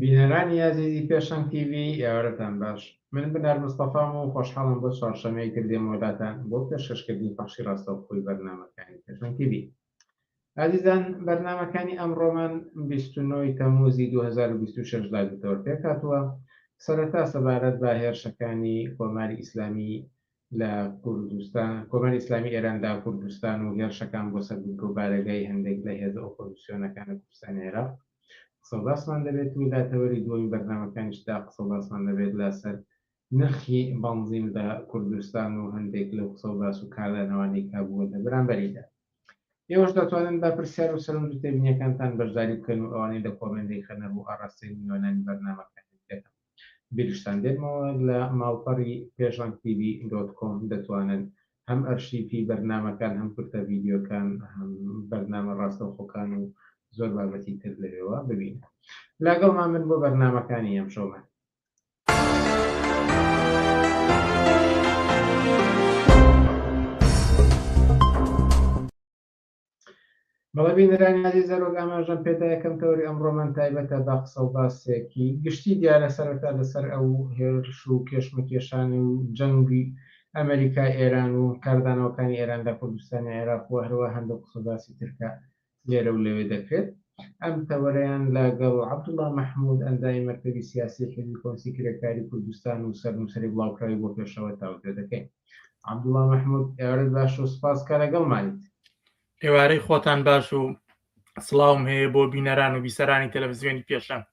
بینەرانی ئازیزی پێشەنگ تی ڤی ئێوارەتان باش من بنار مستەفام و خۆشحاڵم بۆ چوارشەمەیەکتر دێمەوە لاتان بۆ پێشکەشکردنی پەخشی ڕاستەوخۆی بەرنامەکانی پێشەنگ تی ڤی ئازیزان بەرنامەکانی ئەمڕۆمان 29 تەموزی 2026 داگرتەوە پێکاتوە سەرەتا سەبارەت بە هێرشەکانی کۆماری ئیسلامی لە کوردستان کۆماری ئیسلامی ئێراندا کوردستان و هێرشەکان بۆ سەر بنکە و بارەگای هەندێک لە هێزە ئۆپۆزیسیۆنەکان لە کوردستان عێراق قسەڵاسمان دەبێت و لاتەوەری دووەمی بەرنامەکانیشدا قسەڵاسمان دەبێت لەسەر نرخی بەنزین لە کوردستان و هەندێک لەو قسە و باس و کاردانەوانەی کە بووە لە بەرامبەریدا. ئێوەش دەتوانن بە پرسیار و سەرنج و تێبینیەکانتان بەشداری بکەن و ئەوانەی لە کۆمێنت دەیخەنە ڕوو ئاڕاستەی میوانانی بەرنامەکە دەکەن. بیرشتان دێنمەوە لە ماڵپەڕی پێشەنگ تیڤی دۆت کۆم دەتوانن هەم ئەرشیفی بەرنامەکان هەم کورتە ڤیدیۆکان هەم بەرنامە ڕاستەوخۆکان و زۆر بابەتی تر لەوێوە ببینن. لاگەڵمان بن بۆ بەرنامەکانی ئەمشەومان. بەڵێ بینەرانی نازی زەرۆک ئاماژەم پێدا یەکەم تەوەری ئەمڕۆمان تایبەتە بە قسە و باسێکی گشتی دیارە سەرەتا لەسەر ئەو هێرش و کێشمەکێشانی و جەنگی ئەمریکا ئێران و کاردانەوەکانی ئێران لە کوردستانی عێراق و هەروە هەندێک قسە و باسی ترکە لێرە و لەوێ دەکرێت. ئەم تەوەرەیان لە گەڵ عەبدوڵا مەحمود، ئەندامی مەکتەبی سیاسی حیزبی کۆنسی کرێکاری کوردستان و سەرنووسەری بڵاوکراوی بۆ پێشەوە تاوتوێ دەکەین. عەبدوڵا مەحمود، ئێوارەت باش و سپاس کە لەگەڵمانیت. ئێوارەی خۆتان باش و سڵاوم هەیە بۆ بینەران و بیسەرانی تەلەفزیۆنی پێشەنگ.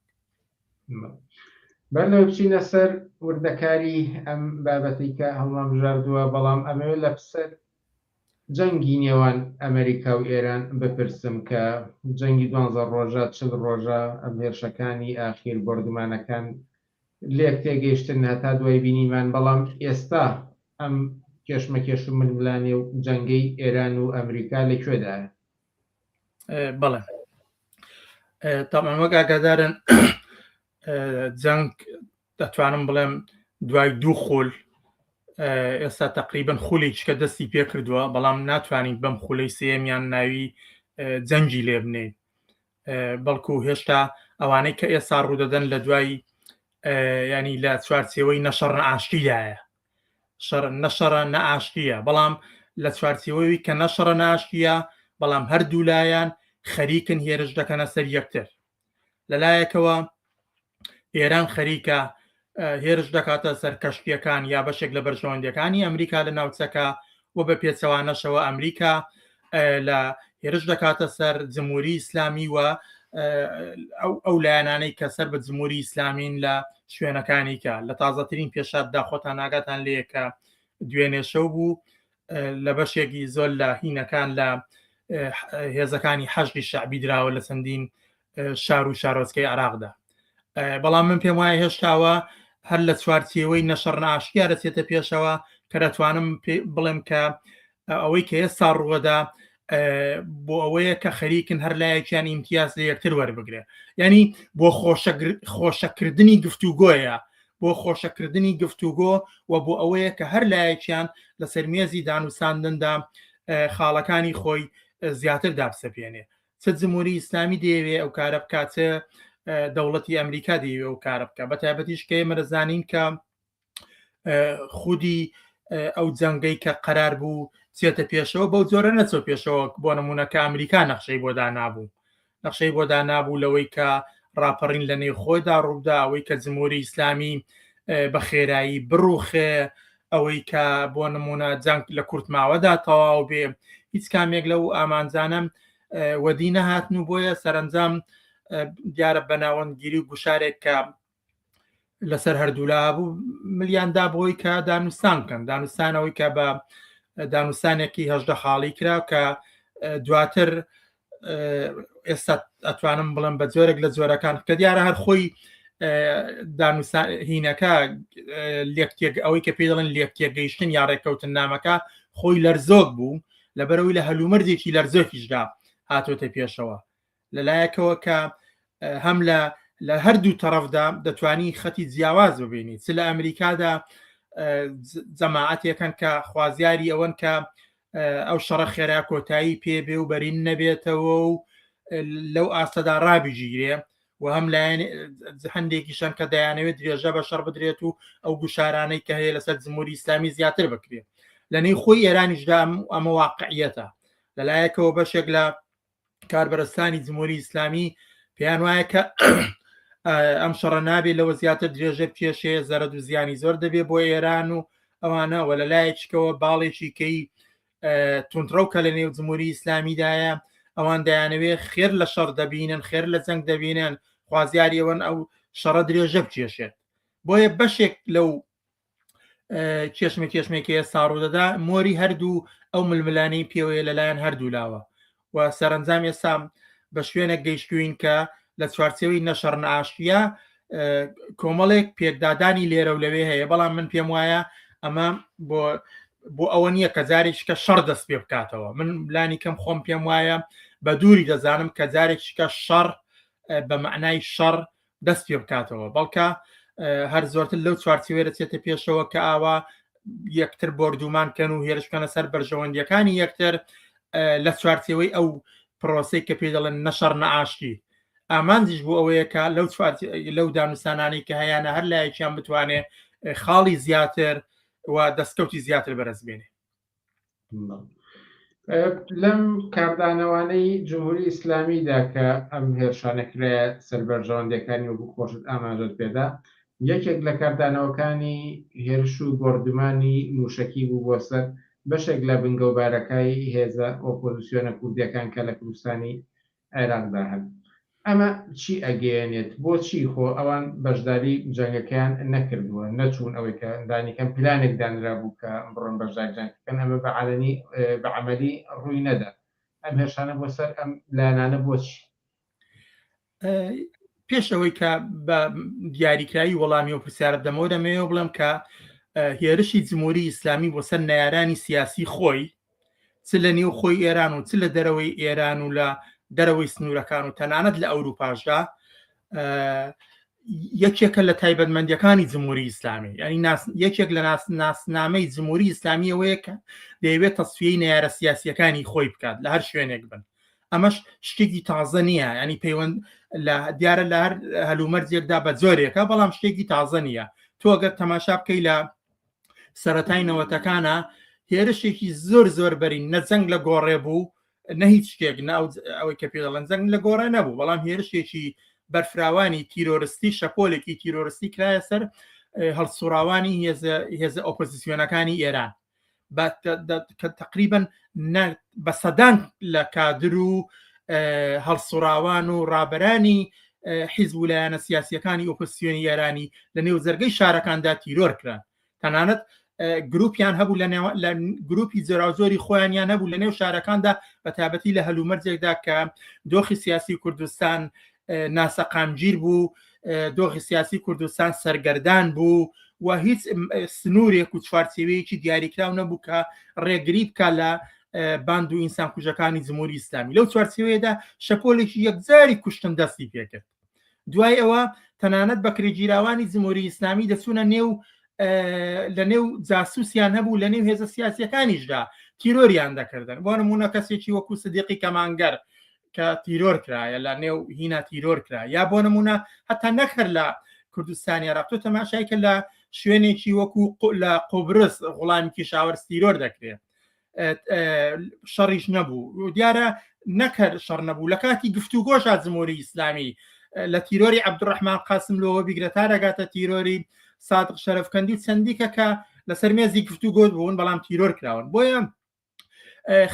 با لێرە بچینە سەر وردەکاری ئەم بابەتەی کە هەڵمانبژاردووە، بەڵام ئەمەوێت لە پسر جەنگی نێوان ئەمەریکا و ئێران بپرسم کە جەنگی دوانزە ڕۆژە چل ڕۆژە ئەم هێرشەکانی ئاخیر بۆردومانەکان لێک تێگەیشتن هەتا دوای بینیمان بەڵام ئێستا ئەم کێشمەکێش و ململانێ و جەنگەی ئێران و ئەمریکا لە کوێدایە بەڵێ تەمامەک ئاگادارن جەنگ دەتوانم بڵێم دوای دوو خول ئێستا تقریبن خولی چکە دەستی پێ کردووە بەڵام ناتوانین بەم خولەی سێمیان ناوی جەنگی لێ بنین بەڵکو هێشتا ئەوانەی کە ئێستا ڕوودەدەن لە دوای ینی لە چوارچەوەی نەشەڕ ئاشتیدایە شەڕ نەشەڕە نەئاشتیە بەڵام لە چوارچەوەی کە نەشەڕە ناشتیە بەڵام هەردوو لایەن خەریکن هێرش دەکەنە سەر یەکتر لەلایەکەوە ئێران خەریکە هێرش دەکاتە سەر کەشتیەکان یا بەشێک لە بەرژەوەندەکانی ئەمریکا لە ناوچەکە و بە پێچەوانەشەوە ئەمریکا لە هێرش دەکاتە سەر جمهوری ئیسلامی و ئەو لایەنانەی کە سەر بە جمهوری ئیسلامین لە شوێنەکانیکە لە تازەترین پێشاتدا خۆتان ناگاتان لەیەکە دوێنێشەو بوو لە بەشێکی زۆر لە هینەکان لە هێزەکانی حەشقی شعبی دراوە لە چەندین شار و شارۆچکەی عراقدا بەڵام من پێم وایە هێشتاوە هەر لە چوارچێوەی نەشەڕ ناشکیا دەچێتە پێشەوە کە دەتوانم بڵێم کە ئەوەی کە ئێستا ڕووەدا بۆ ئەوەیە کە خەریکن هەر لایەکیان ئیمتیاز لە یەکتر وەربگرێ ینی بۆ خۆشەکردنی گفتوگۆیە بۆ خۆشەکردنی گفتوگۆ و بۆ ئەوەیە کە هەر لایەکیان لە سەرمێزی دانوساندندا خاڵەکانی خۆی زیاتر دابسەپێنێ چ جمهوری ئیسلامی دەیەوێ ئەو کارە بکاتە دەوڵەتی ئەمریکا دەیەوێ و کارە بکە بە تایبەتیش کە مەرەزانین کە خودی ئەو جەنگەی کە قەرار بوو چێتە پێشەوە بەو جۆرە نەچۆ پێشەوە بۆ نمونونەکە ئەمریکا نەخشەی بۆ دانابوو نەخشەی بۆ دانابوو لەوەی کە ڕاپەڕین لە نێو خۆیدا ڕوودا ئەوەی کە جمهوری ئیسلامی بە خێرایی بڕوخێ ئەوەی کە بۆ نمونە جەنگ لە کورتماوەدا تەواو بێ هیچ کامێک لەو ئامانجانم وەدی نەهاتن و بۆیە سەرنجام دیارە بەناوەندگیری و گوشارێک کە لەسەر هەردوولا بوو ملیان دا بۆی کە دانوستان بکەن دانوستانەوەی کە بە دانوستانێکی هەشدە خاڵی کرا کە دواتر ئێستا ئەتوانم بڵم بە جۆرێک لە جۆرەکان کە دیارە هەر خۆی هینەکە لێکتێک ئەوەی کە پێ دەڵێن لێکتێگەیشتن یا ڕێککەوتن نامەکە خۆی لەرزۆک بوو لەبەرەوەی لە هەلومەرجێکی لەرزۆکیشدا هاتۆتە پێشەوە لەلایەکەوە کە هەم لە لە هەردوو تەرەفدا دەتوانی خەتی جیاواز ببینی چ لە ئەمریکادا جەماعاتێکن کە خوازیاری ئەوەن کە ئەو شەڕە خێرا کۆتایی پێبێ و بەرین نەبێتەوە و لەو ئاستەدا ڕابیژیرێ و هەم لایەن هەندێکی شەن کە دەیانەوێت درێژە بە شەڕ بدرێت و ئەو گوشارانەی کە هەیە لەسەر جمهوری ئسلامی زیاتر بکرێت لەنەی خۆی ئێرانیشدام ئەمە واقعیەتە لەلایەکەوە بەشێک لە کاربەرستانی جمهوری ئیسلامی پێیان وایە کە ئەم شەڕە نابێ لەوە زیاتر درێژە کێشەیە زەرد و زیانی زۆر دەبێ بۆ ئێران و ئەوانە وە لە لایەکەوە باڵێکی کەی تونندڕەو کە لە نێو جمهوری ئیسلامیدایە ئەوان دەیانەوێ خێر لە شەڕ دەبینن خێر لە جەنگ دەبینن خوازیاریەوەن ئەو شەڕە درێژە بچێشێت بۆیە بەشێک لەو کێشمە کێشمێکی ئێستا ڕوودەدا مۆری هەردوو ئەو ململانی پێوەیە لەلایەن هەردوو لاوە و سەرنجام ئێستا بە شوێنێک گەیشتوین کە لە چوارچەوەی نەشەڕ ناشتە کۆمەڵێک پێکدادانی لێرە و لەوێ هەیە بەڵام من پێم وایە ئەمە بۆ بۆ ئەوە نییە کە جارێک شکە شەڕ دەست پێ بکاتەوە من لانی کەم خۆم پێم وایە بە دووری دەزانم کە جارێک شکە شەڕ بە معنای شەڕ دەست پێ بکاتەوە بەڵکە هەر زۆرتر لەو چوارچوێ دەچێتە پێشەوە کە ئاوا یەکتر بردومان کەن و هێرشکەنە سەر بەرژەوەندیەکانی یەکتر لە چوارچەوەی ئەو پرۆسی کە پێ دەڵێن نەشەڕ نەعاشتی ئامانجیش بۆ ئەوەیە کە لەو لەو دانوسانانی کە هەیەە هەر لایەکیان بتوانێت خاڵی زیاتر و دەستکەوتی زیاتر بەرزبێنێ لەم کاردانەوانەی جمهوری ئیسلامیدا کە ئەم هێرشانە کرایە سەر بەرژەوەندەکانی وەکو خۆشت ئاماژەت پێدا یەکێک لە کاردانەوەکانی هێرش و بۆردمانی موشەکی بوو بۆ سەر بەشێک لە بنگەوبارەکای هێزە ئۆپۆزسیۆنە کوردیەکان کە لە کوردستانی عێراق دا هەن ئەمە چی ئەگەیەنێت بۆچی خۆ ئەوان بەشداری جەنگەکەیان نەکردووە نەچوون ئەوەی کە لانیکەم پلانێک دانرابوو کە بڕۆن بەشداری جەنگ بکەن ئەمە بە عەلەنی بە عەمەلی ڕووی نەدا ئەم هێرشانە بۆ سەر ئەم لایەنانە بۆچی پێش ئەوەی کە بە دیاریکراوی وەڵامی و پرسیارە دەمەوە دەمەوێ بڵێم کە هێرشی جمهوری ئیسلامی بۆ سەر نارانی سیاسی خۆی چ لە نێو خۆی ئێران و چ لە دەرەوەی ئێران و لە دەرەوەی سنوورەکان و تەنانەت لە ئەوروپاشدا یەکێکە لە تایبەتمەندیەکانی جمهوری ئیسلامی ینی یەکێک لە ناسنامەی جمهوری ئیسلامیەوەیە کە دەیەوێت تەسفی نارە سیاسیەکانی خۆی بکات لە هەر شوێنێک بن ئەمەش شتێکی تازە نییە ینی پەیوەند لە دیارە لە هەر هەلومەرجێکدا بە جۆرێکە بەڵام شتێکی تازە نییە تۆ گەر تەماشا بکەی لە سەتای نەوەتەکانە هێرشێکی زۆر زۆر بەرین نەجەنگ لە گۆڕێ بوو نە هیچ شتێک ناو ئەوەی کە پێڵەن جەنگ لە گۆڕێ نەبوو بەڵام هێرشێکی بەرفراوانی تیرۆرستی شەپۆلێکی تیرۆرستی کرایە سەر هەڵسوڕاوانی هێزە ئۆپۆزیسیۆنەکانی ئێران تقریبن بە سەدان لە کادر و هەڵسوڕاوان و ڕابەرانی حیزب و لایەنە سیاسیەکانی ئۆپسیۆنی یارانی لە نێو زەرگەی شارەکاندا تیرۆر کران تەنانەت گروپیان هەبوو لە گروپی جۆراوجۆری خۆیانیان هەبوو لە نێو شارەکاندا بە تابەتی لە هەلومەرجێکدا کە دۆخی سیاسی کوردستان ناسەقامگیر بوو دۆخی سیاسی کوردستان سەرگەردان بوو و هیچ سنوورێک و چوارچێوەیەکی دیاریکراو نەبوو کە ڕێگری بکە لە باند و ئینسان کوژەکانی جمهوری ئیسلامی لەو چوارچێوەیەدا شەپۆلێکی یەکجاری کوشتن دەستی پێکرد دوای ئەوە تەنانەت بەکرێگیراوانی جمهوری ئیسلامی دەچوونە نێو لە نێو جاسوسیان هەبوو لە نێو هێزە سیاسیەکانیشدا تیرۆریان دەکردن بۆ نمونە کەسێکی وەکو سدیقی کەمانگەر کە تیرۆر کرایە لە نێو هینا تیرۆر کرا یا بۆ نمونە هەتا نەخەر لە کوردستانی عراق تۆ تەماشای کە لە شوێنێکی وەکو لە قۆبرس غڵامی کیشاوەر تیرۆر دەکرێت شەڕیش نەبوو دیارە نەکەر شەڕ نەبوو لە کاتی گفتوگۆشا جمهوری ئیسلامی لە تیرۆری عبدڕحمان قاسم لەوە بیگرە تا دەگاتە تیرۆری سادق شەرفکەندی و چەندیکە کە لەسەر مێزی گفتوگۆ بوون بەڵام تیرۆر کراون بۆیە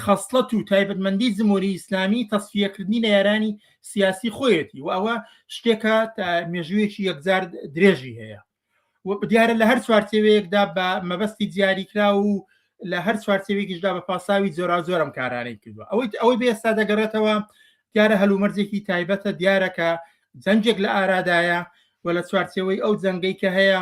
خەسڵەت و تایبەتمەندی زمۆری ئیسلامی تەسفیەکردنی نەیارانی سیاسی خۆیەتی و ئەوە شتێکە مێژوویەکی یەکجار درێژی هەیە دیارە لە هەر چوارچێوەیەکدا بە مەبەستی دیاریکرا و لە هەر چوارچێوێکیشدا بە پاساوی جۆرا زۆرم کارانەی کردووە ئەوەی ئەوەی بێستا دەگەڕێتەوە دیارە هەلومەرجێکی تایبەتە دیارەکە جەنجێک لە ئارادایە و لە چوارچێوەی ئەو جەنگەی کە هەیە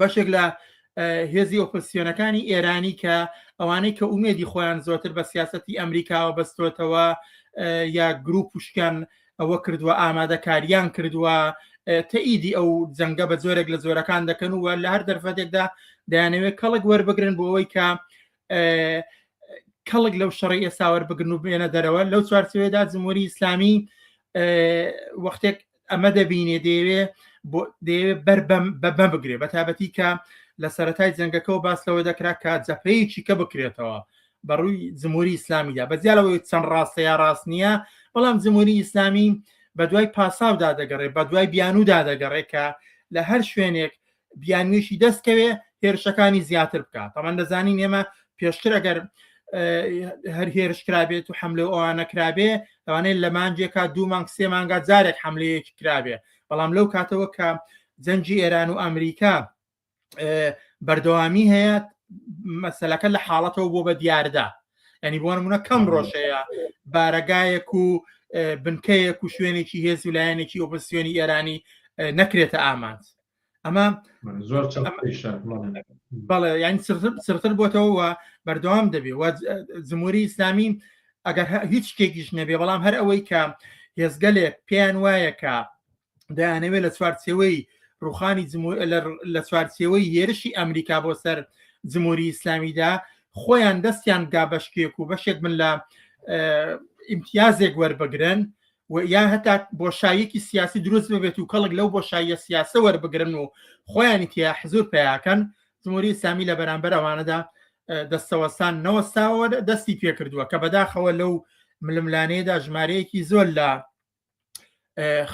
بەشێک لە هێزی ئۆپسیۆنەکانی ئێرانی کە ئەوانەی کە ئومێدی خۆیان زۆرتر بە سیاستی ئەمریکاوە بەستۆتەوە یا گروپ پشکیان ئەوە کردووە ئامادەکاریان کردووە تەئیدی ئەو جەنگە بە زۆرێک لە زۆرەکان دەکەن و لە هەر دەرفەتێکدا دەیانەوێت کەڵک وەربگرن بۆ ئەوەی کە کەڵک لەو شەڕی ئێساوەەر بگرن و بێنە دەرەوە لەو چوارچوێدا جمهوری ئیسلامی وەختێک ئەمە دەبینێ دەیەوێ دەیەوێ بەر بەبە بگرێ بە تابەتی کە لە سەتای جەنگەکە و باس لەوە دەکرا کە جەپەیەکی کە بکرێتەوە بەڕووی جمهوری ئیسلامیدا بەجیالەوەی چەند ڕاستە یا ڕاست نییە بەڵام جمهوری ئیسلامی بە دوای پاساودا دەگەڕێ بە دوای بیانودا دەگەڕێ کە لە هەر شوێنێک بیانویشی دەستکەوێ هێرشەکانی زیاتر بکات تەمان دەزانین ئێمە پێشتر ئەگەر هەر هێرشکرابێت و حملە ئەوانە کرابێ ئەوانەیە لە مانجێکا دوو مانگ سێ مانگا جارێک حملەیەکی کرابێ بەڵام لەو کاتەوە کە جەنجی ئێران و ئەمریکا بەردەوامی هەیە مەسلەکە لە حاڵەتەوە بۆ بە دیاردا ینی بۆ نمونە کەم ڕۆژەیە بارەگایەک و بنکەیەک و شوێنێکی هێز و لایەنێکی ئۆپسیۆنی ئێرانی نەکرێتە ئامانج ئەمە بەڵێ یان سرتر بۆتەوە و بەردەوام دەبێ و جمهوری ئیسلامی ئەگەر هیچ شتێکیش نەبێ بەڵام هەر ئەوەی کە هێزگەلێک پێیان وایە کە دەیانەوێت لە چوارچەوەی ڕوخانی لە چوارچەوەی هێرشی ئەمریکا بۆ سەر جمهوری ئیسلامیدا خۆیان دەستیان گا بەشکێک و بەشێک من لە ئیمتیازێک وەربگرن و یا هەتا بۆشاییەکی سیاسی دروست ببێت و کەڵک لەو بۆشاییە سیاسە وەربگرن و خۆیانی تیا حزور پیاکەن جمهوری ئیسلامی لە بەرامبەر ئەوانەدا دەستەوەسان نەوەستاوە دەستی پێ کردووە کە بەداخەوە لەو ململانەیەدا ژمارەیەکی زۆر لە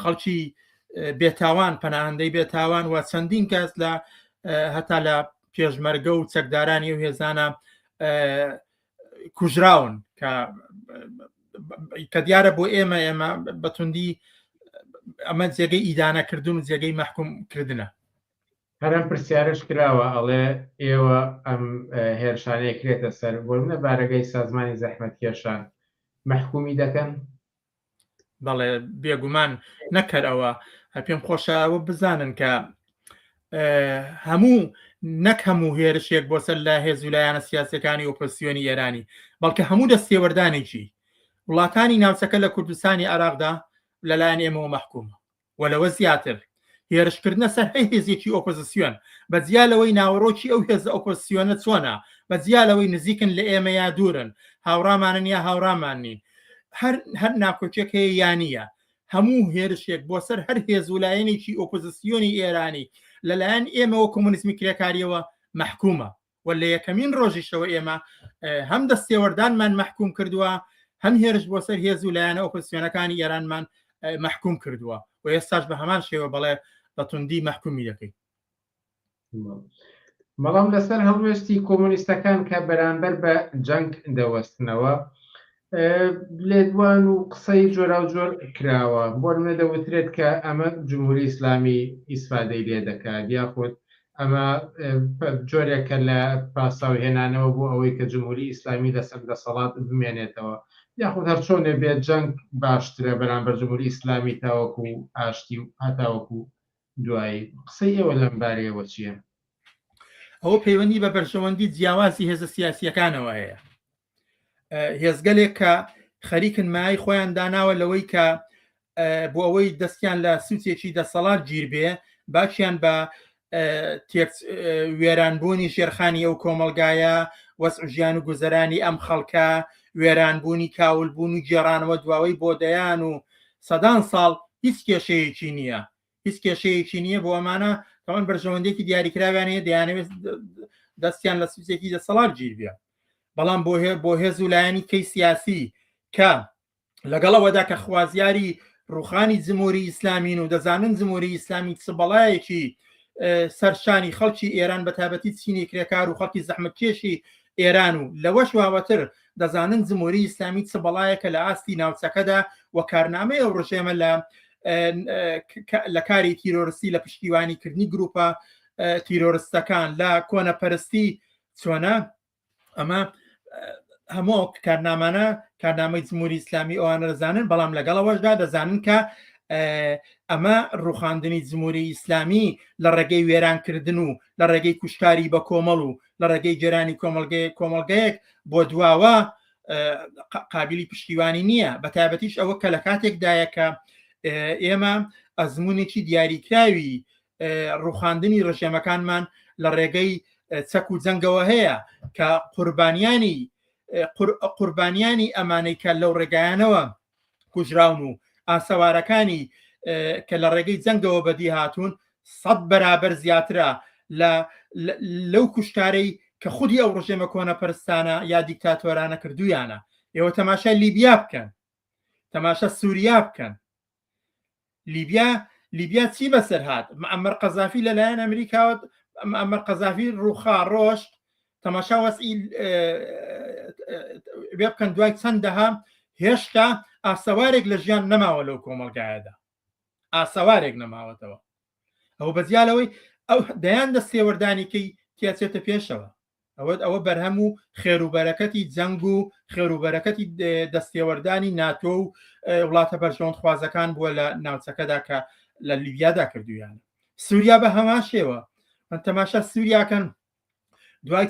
خەڵکی بێتاوان پەناهندەی بێتاوان و چەندین کەس لە هەتا لە پێشمەرگە و چەکدارانی و هێزانە کوژراون کە کە دیارە بۆ ئێمە ئێمە بەتوندی ئەمە جێگەی ئیدانەکردن و جێگەی مەحکوم کردنە هەرم پرسیارش کراوە ئەڵێ ئێوە ئەم هێرشانەیە کرێتە سەر بۆ منە بارەگەی سازمانی زەحمەت کێشان مەحکومی دەکەن بەڵێ بێگومان نەکەر ئەوە پێم خۆشەوە بزانن کە هەموو نەک هەموو هێرشێک بۆ سەر لە هێز و لایەنە سیاسەکانی ئۆپسیۆنی ئێرانی بەڵکە هەموو دەستێوەردانێکی وڵاتانی ناوچەکە لە کوردستانی عراقدا لەلایەن ئێمەوە مەحکومە و لەوە زیاتر هێرشکردنە سەر هەی هێزێکی ئۆپۆزسیۆن، بە جیا لەوەی ناوەرۆکی ئەو هێزە ئۆپۆزسیۆنە چۆنە، بە جیا لەوەی نزیکن لە ئێمە یا دوورن، هاوڕامانن یا هاوڕامان نین، هەر هەر ناکۆکیەک هەیە یا نییە، هەموو هێرشێک بۆ سەر هەر هێز و لایەنێکی ئۆپۆزسیۆنی ئێرانی لە لایەن ئێمە و کۆمۆنیزمی کرێکاریەوە مەحکومە. و لە یەکەمین ڕۆژیشەوە ئێمە هەم دەستێوەردانمان مەحکوم کردووە هەم هێرش بۆ سەر هێز و لایەنە ئۆپسیۆنەکانی ئێرانمان مەحکوم کردووە و ئێستاش بە هەمان شێوە بەڵێ بە توندی مەحکومی دەکەین بەڵام لەسەر هەڵوێستی کۆمۆنیستەکان کە بەرامبەر بە جەنگ دەوەستنەوە لێدوان و قسەی جۆراوجۆر کراوە، بۆ نموونە دەوترێت کە ئەمە جمهوری ئیسلامی ئیسفادەی لێ دەکات، یاخود ئەمە جۆرێکە لە پاساو هێنانەوە بۆ ئەوەی کە جمهوری ئیسلامی لەسەر دەسەڵات بمێنێتەوە، یاخود هەرچۆنێ بێت جەنگ باشترە بەرامبەر جمهوری ئیسلامی تاوەکو ئاشتی و هەتاوەکو دوایی، قسەی ئێوە لەم بارەیەوە چییە؟ ئەوە پەیوەندی بە بەرژەوەندی جیاوازی هێزە سیاسییەکانەوە هەیە. هێزگەلێک کە خەریکن مای خۆیان داناوە لەوەی کە بۆ ئەوەی دەستیان لە سوچێکی دەسەڵات گیربێ باچیان بە وێرانبوونی ژێرخانی ئەو کۆمەلگایە وەس ژیان و گوزەرانی ئەم خەڵکە وێرانبوونی کاولبوون و گێڕانەوە دواوەی بۆ دەیان و سەدان ساڵ هیچ کێشەیەکی نییە هیچ کێشەیەکی نییە بۆ ئەمانە تاوان بەرژەوەندێکی دیاریکراویانەیە دەیانەوێت دەستیان لە سوزێکی دەسەڵات گیربێ بەڵام بۆ هێ بۆ هێز و لایەنی کەی سیاسی کە لەگەڵەوەدا کە خوازیاری ڕوخانی جمهوری ئیسلامین و دەزانن جمهوری ئیسلامی چ بەڵایەکی سەرشانی خەڵکی ئێران بە تابەتی چینی کرێکار و خەڵکی زەحمەتکێشی ئێران و لەوەش واوەتر دەزانن جمهوری ئیسلامی چ بەڵایەکە لە ئاستی ناوچەکەدا و کارنامەی ئەو ڕژێمە لە لە کاری تیرۆرستی لە پشتیوانی کردنی گروپە تیرۆرستەکان لە کۆنەپەرستی چۆنە ئەمە هەموو کارنامانە کارنامەی جمهوری ئیسلامی ئەوانە دەزانن بەڵام لەگەڵەوەشدا دەزانن کە ئەمە ڕوخاندنی جمهوری ئیسلامی لە ڕێگەی وێرانکردن و لە ڕێگەی کوشتاری بە کۆمەڵ و لە ڕێگەی گەرانی کۆمەلگەیە کۆمەلگەیەک بۆ دواوە قابلی پشتیوانی نییە بە تابەتیش ئەوە کە لە کاتێکدایە کە ئێمە ئەزمونێکی دیاریکراوی ڕوخاندنی ڕژێمەکانمان لە ڕێگەی چەک و جەنگەوە هەیە کە قوربانیانی قوربانیانی ئەمانەی کە لەو ڕێگایانەوە کوژراون و ئاسەوارەکانی کە لە ڕێگەی جەنگەوە بەدی هاتوون سەد بەرابەر زیاترە لە لەو کوشتارەی کە خودی ئەو ڕژێمە کۆنە پرستانە یا دیکتاتۆرانە کردویانە ئێوە تەماشای لیبیا بکەن تەماشا سووریا بکەن لیبیا لیبیا چی بەسەر هاات ئەمەر قەزافی لەلایەن ئەمریکاوە ئەمەر قەزافی ڕوخا ڕۆشت تەماشا وەسی وێ بکەن دوای چەندەها هێشتا ئاسەوارێک لە ژیان نەماوە لەو کۆمەلگایەدا ئاسەوارێک نەماوەتەوە ئەو بەزیالەوەی ئەو دەیان دە سێوەردانیکەی تیاچێتە پێشەوە ئەوە ئەوە بەرهەم و خێروبەرەکەتی جەنگ و خێروبەرەکەتی دەستێوەردانی ناتۆ و وڵاتە بەرژەوەندخوازەکان بووە لە ناوچەکەدا کە لە لیبیادا کردویان سووریا بە هەمان شێوە من تەماشا سووریاکەن دوای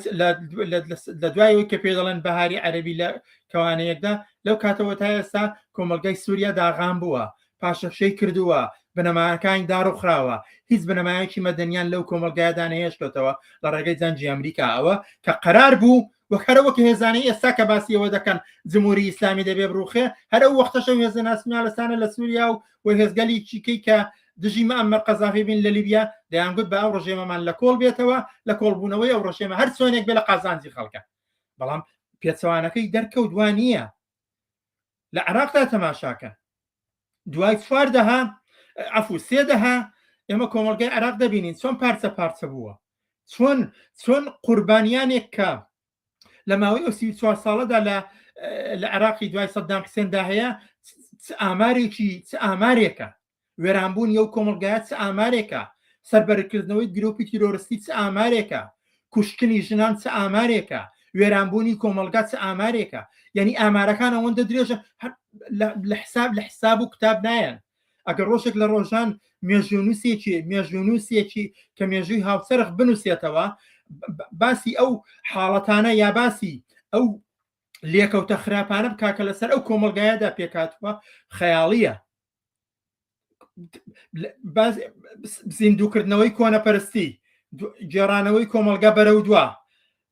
لە دوایەوەی کە پێ دەڵێن بەهاری عەربی لە کەوانەیەکدا لەو کاتەوە تا ئێستا کۆمەلگای سووریا داغان بووە پاشەکشەی کردووە بنەماکانی داڕوخراوە هیچ بنەمایەکی مەدەنیان لەو کۆمەلگایدا نەهێشتەوە لە ڕێگەی جەنجی ئەمریکا ئەوە کە قەرار بوو وەکەرەوەک هێزانەی ئێستا کە باسیەوە دەکەن جمهوری ئیسلامی دەبێ بڕوخێ هەرە وەختەشە هێزە ناسمیان لەسانە لە سووریا و و هێزگەلی چیکەی کە دژی مەمە قەزافی بین لە لیبیا دەیانگوت بە ئەو ڕژێمەمان لە کۆڵ بێتەوە لە کۆڵبوونەوەی ئەو ڕژێمە هەر سۆنێک بێ لە قازانجی خەڵکە بەڵام پێچوانەکەی دەرکەوت وان نییە لە عێراقدا تەماشاکەن دوای چوار دەها عفو سێ دەها ئێمە کۆمەلگای عێراق دەبینین چۆن پارچە پارچە بووە چۆن چۆن قوربانیانێک کە لە ماوەی ئەو سی چوار ساڵەدا لە لە عێراقی دوای سەددام حسێندا هەیە ئامارێکی ئامارێکە وێرانبوونی ئەو کۆمەڵگایە چ ئامارێکە، سەربەرکردنەوەی گرۆپی تیرۆرستی چ ئامارێکە، کوشتنی ژنان چ ئامارێکە، وێرانبوونی کۆمەڵگا چ ئامارێکە، یانی ئامارەکان ئەوەندە درێژە لە حساب لە حساب و کتاب نایەن. ئەگەر ڕۆژێک لە ڕۆژان مێژوونووسێکی مێژوونووسێکی کە مێژووی هاوسەرخ بنووسێتەوە باسی ئەو حاڵەتانە یا باسی ئەو لێکەوتە خراپانە بکە کە لەسەر ئەو کۆمەلگایەدا پێکاتوە خەیاڵیە زیندووکردنەوەی کۆنەپەرستی گێڕانەوەی کۆمەلگا بەرە و دوا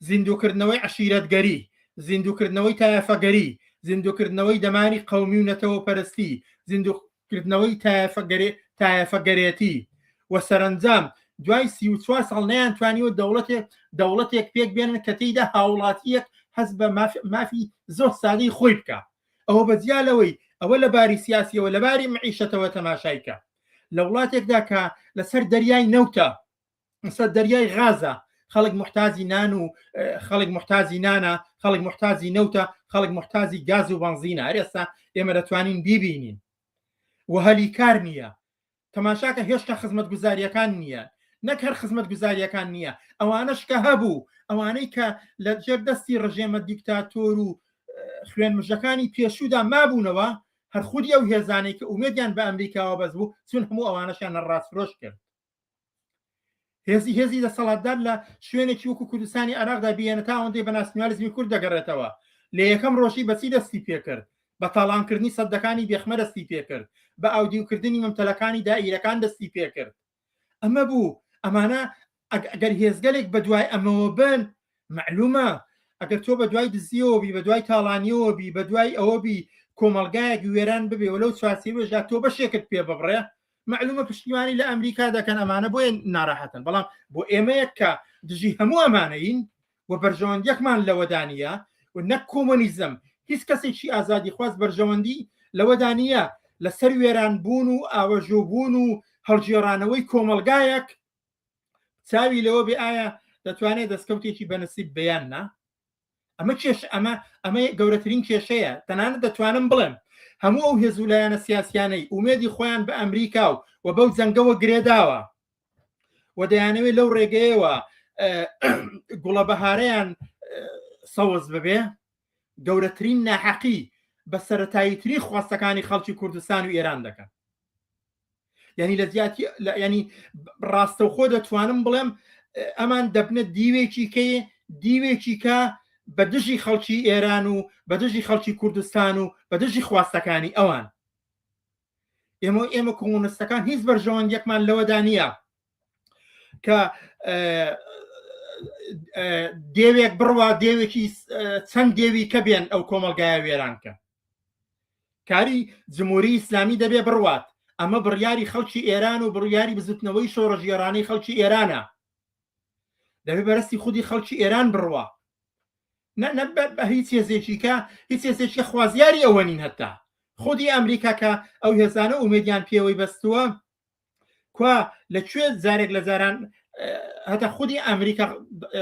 زیندووکردنەوەی عشیرەتگەری زیندووکردنەوەی تایفەگەری زیندووکردنەوەی دەماری قومی و نەتەوە پەرستی زیندووکردنەوەی تایفەگەری تایفەگەرێتی و سەرنجام دوای سی و چوار ساڵ نیان توانیوە دەوڵەتێک دەوڵەتێک پێک بێنن کە تێیدا هاوڵاتیەک هەز بە مافی زۆر سادەی خۆی بکە ئەوە بە جیا لەوەی ئەوە لە باری سیاسیەوە لە باری معیشەتەوە تەماشایکە لە وڵاتێکدا کە لەسەر دەریای نەوتە سەر دەریای غازە خەڵک محتازی نان و خەڵک محتازی نانە خەڵک محتازی نەوتە خەڵک محتازی گاز و بەنزینە ئەرێستا ئێمە دەتوانین بیبینین و هەلی کار نییە تەماشاکە هێشتا خزمەتگوزارییەکان نییە، نەک هەر خزمەتگوزارییەکان نییە، ئەوانەش کە هەبوو، ئەوانەی کە لە ژێر دەستی ڕژێمە دیکتاتۆر و خوێنمژەکانی پێشوودا مابوونەوە، هەر خودی ئەو هێزانەی کە ئومێدیان بە ئەمریکاوە بەستبوو، چوون هەموو ئەوانەشیان نەڕاستفرۆش کرد. هێزی هێزی دەسەڵاتدار لە شوێنێکی وەکو کوردستانی عراقدا بیێنە تا ئەوەندەی بە ناسنیالزمی کورد دەگەڕێتەوە لە یەکەم ڕۆژی بەچی دەستی پێکرد بە تاڵانکردنی سەدەکانی بێخمە دەستی پێکرد بە ئاودیوکردنی مەمتەلەکانی دائیرەکان دەستی پێکرد ئەمە بوو ئەمانە ئەگەر هێزگەلێک بە دوای ئەمەوە بن معلومە ئەگەر تۆ بە دوای دزیەوە بی بە دوای تاڵانیەوە بی بە دوای ئەوە بی کۆمەلگایەک وێران ببێ و لەو چوارچێوێژدا تۆ بەشێکت پێ ببڕێ مەعلومە پشتیوانی لە ئەمریکا دەکەن ئەمانە بۆیە ناراحەتن بەڵام بۆ ئێمەیەک کە دژی هەموو ئەمانەین و بەرژەوەندیەکمان لەوەدانە و نەک کۆمۆنیزم هیچ کەسێکی ئازادی خواز بەرژەوەندی لەوەدانە لەسەر وێران بوون و ئاوەژۆ بوون و هەڵگێڕانەوەی کۆمەلگایەک چاوی لەوە بێ ئایا دەتوانێت دەستکەوتێکی بەنسیب بیان نا ئەمە کێش ئەمە ئەمە گەورەترین کێشەیە تەنانەت دەتوانم بڵێم هەموو ئەو هێز و لایەنە سیاسیانەی ئومێدی خۆیان بە ئەمریکا و و بەو جەنگەوە گرێداوە و دەیانەوێت لەو ڕێگەیەوە گوڵە بەهارەیان سەوز ببێ گەورەترین ناحەقی بە سەتاییتری خواستەکانی خەڵکی کوردستان و ئێران دەکەن ینی لە زیاتی ینی ڕاستەوخۆ دەتوانم بڵێم ئەمان دەبنە دیوێکی کەی دیوێکی کە بە دژی خەڵکی ئێران و بە دژی خەڵکی کوردستان و بە دژی خواستەکانی ئەوان ئێمە ئێمە کۆمونستەکان هیچ بەرژەوەندیەکمان لەوەدا نییە کە دێوێک بڕوا دێوێکی چەند دێوی کە بێن ئەو کۆمەلگایە وێرانکە کاری جمهوری ئیسلامی دەبێ بڕوات ئەمە بڕیاری خەڵکی ئێران و بڕیاری بزوتنەوەی شۆڕژێرانەی خەڵکی ئێرانە دەبێ بەرەستی خودی خەڵکی ئێران بڕوە بە هیچ هێزێکیکە هیچ هێزێکی خوازیاری ئەوە نین هەتا خودی ئەمریکاکە ئەو هێزانە ئومێدیان پێوەی بەستووە کوا لە کوێ زارێک لە زاران هەتا خودی ئەمریکا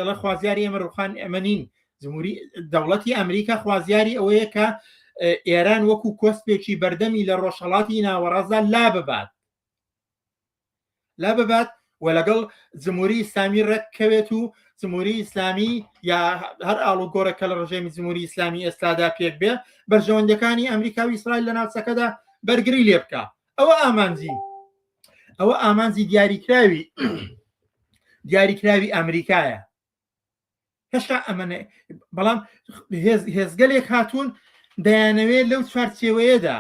لە خوازیاری ئەمە ڕوخان ئەمە نین جمهوری دەوڵەتی ئەمریکا خوازیاری ئەوەیە کە ئێران وەکو کۆسپێکی بەردەمی لە ڕۆژهڵاتی ناوەڕازدا لا ببات لا ببات و لەگەڵ جمهوری ئسلامی ڕێککەوێت و جمهوری ئیسلامی یا هەر ئاڵوگۆرە کە لە ڕژێمی جمهوری ئیسلامی ئێستادا پێک بێ بەرژەوەندەکانی ئەمریکا و ئیسرائیل لە ناوچەکەدا بەرگری لێ بکە ئەوە ئامانجی ئەوە ئامانجی دیاریکراوی دیاریکراوی ئەمریکایە هێشتا ئەمەە بەڵام هێزگەلێک هاتوون دەیانەوێت لەو چوارچێوەیەدا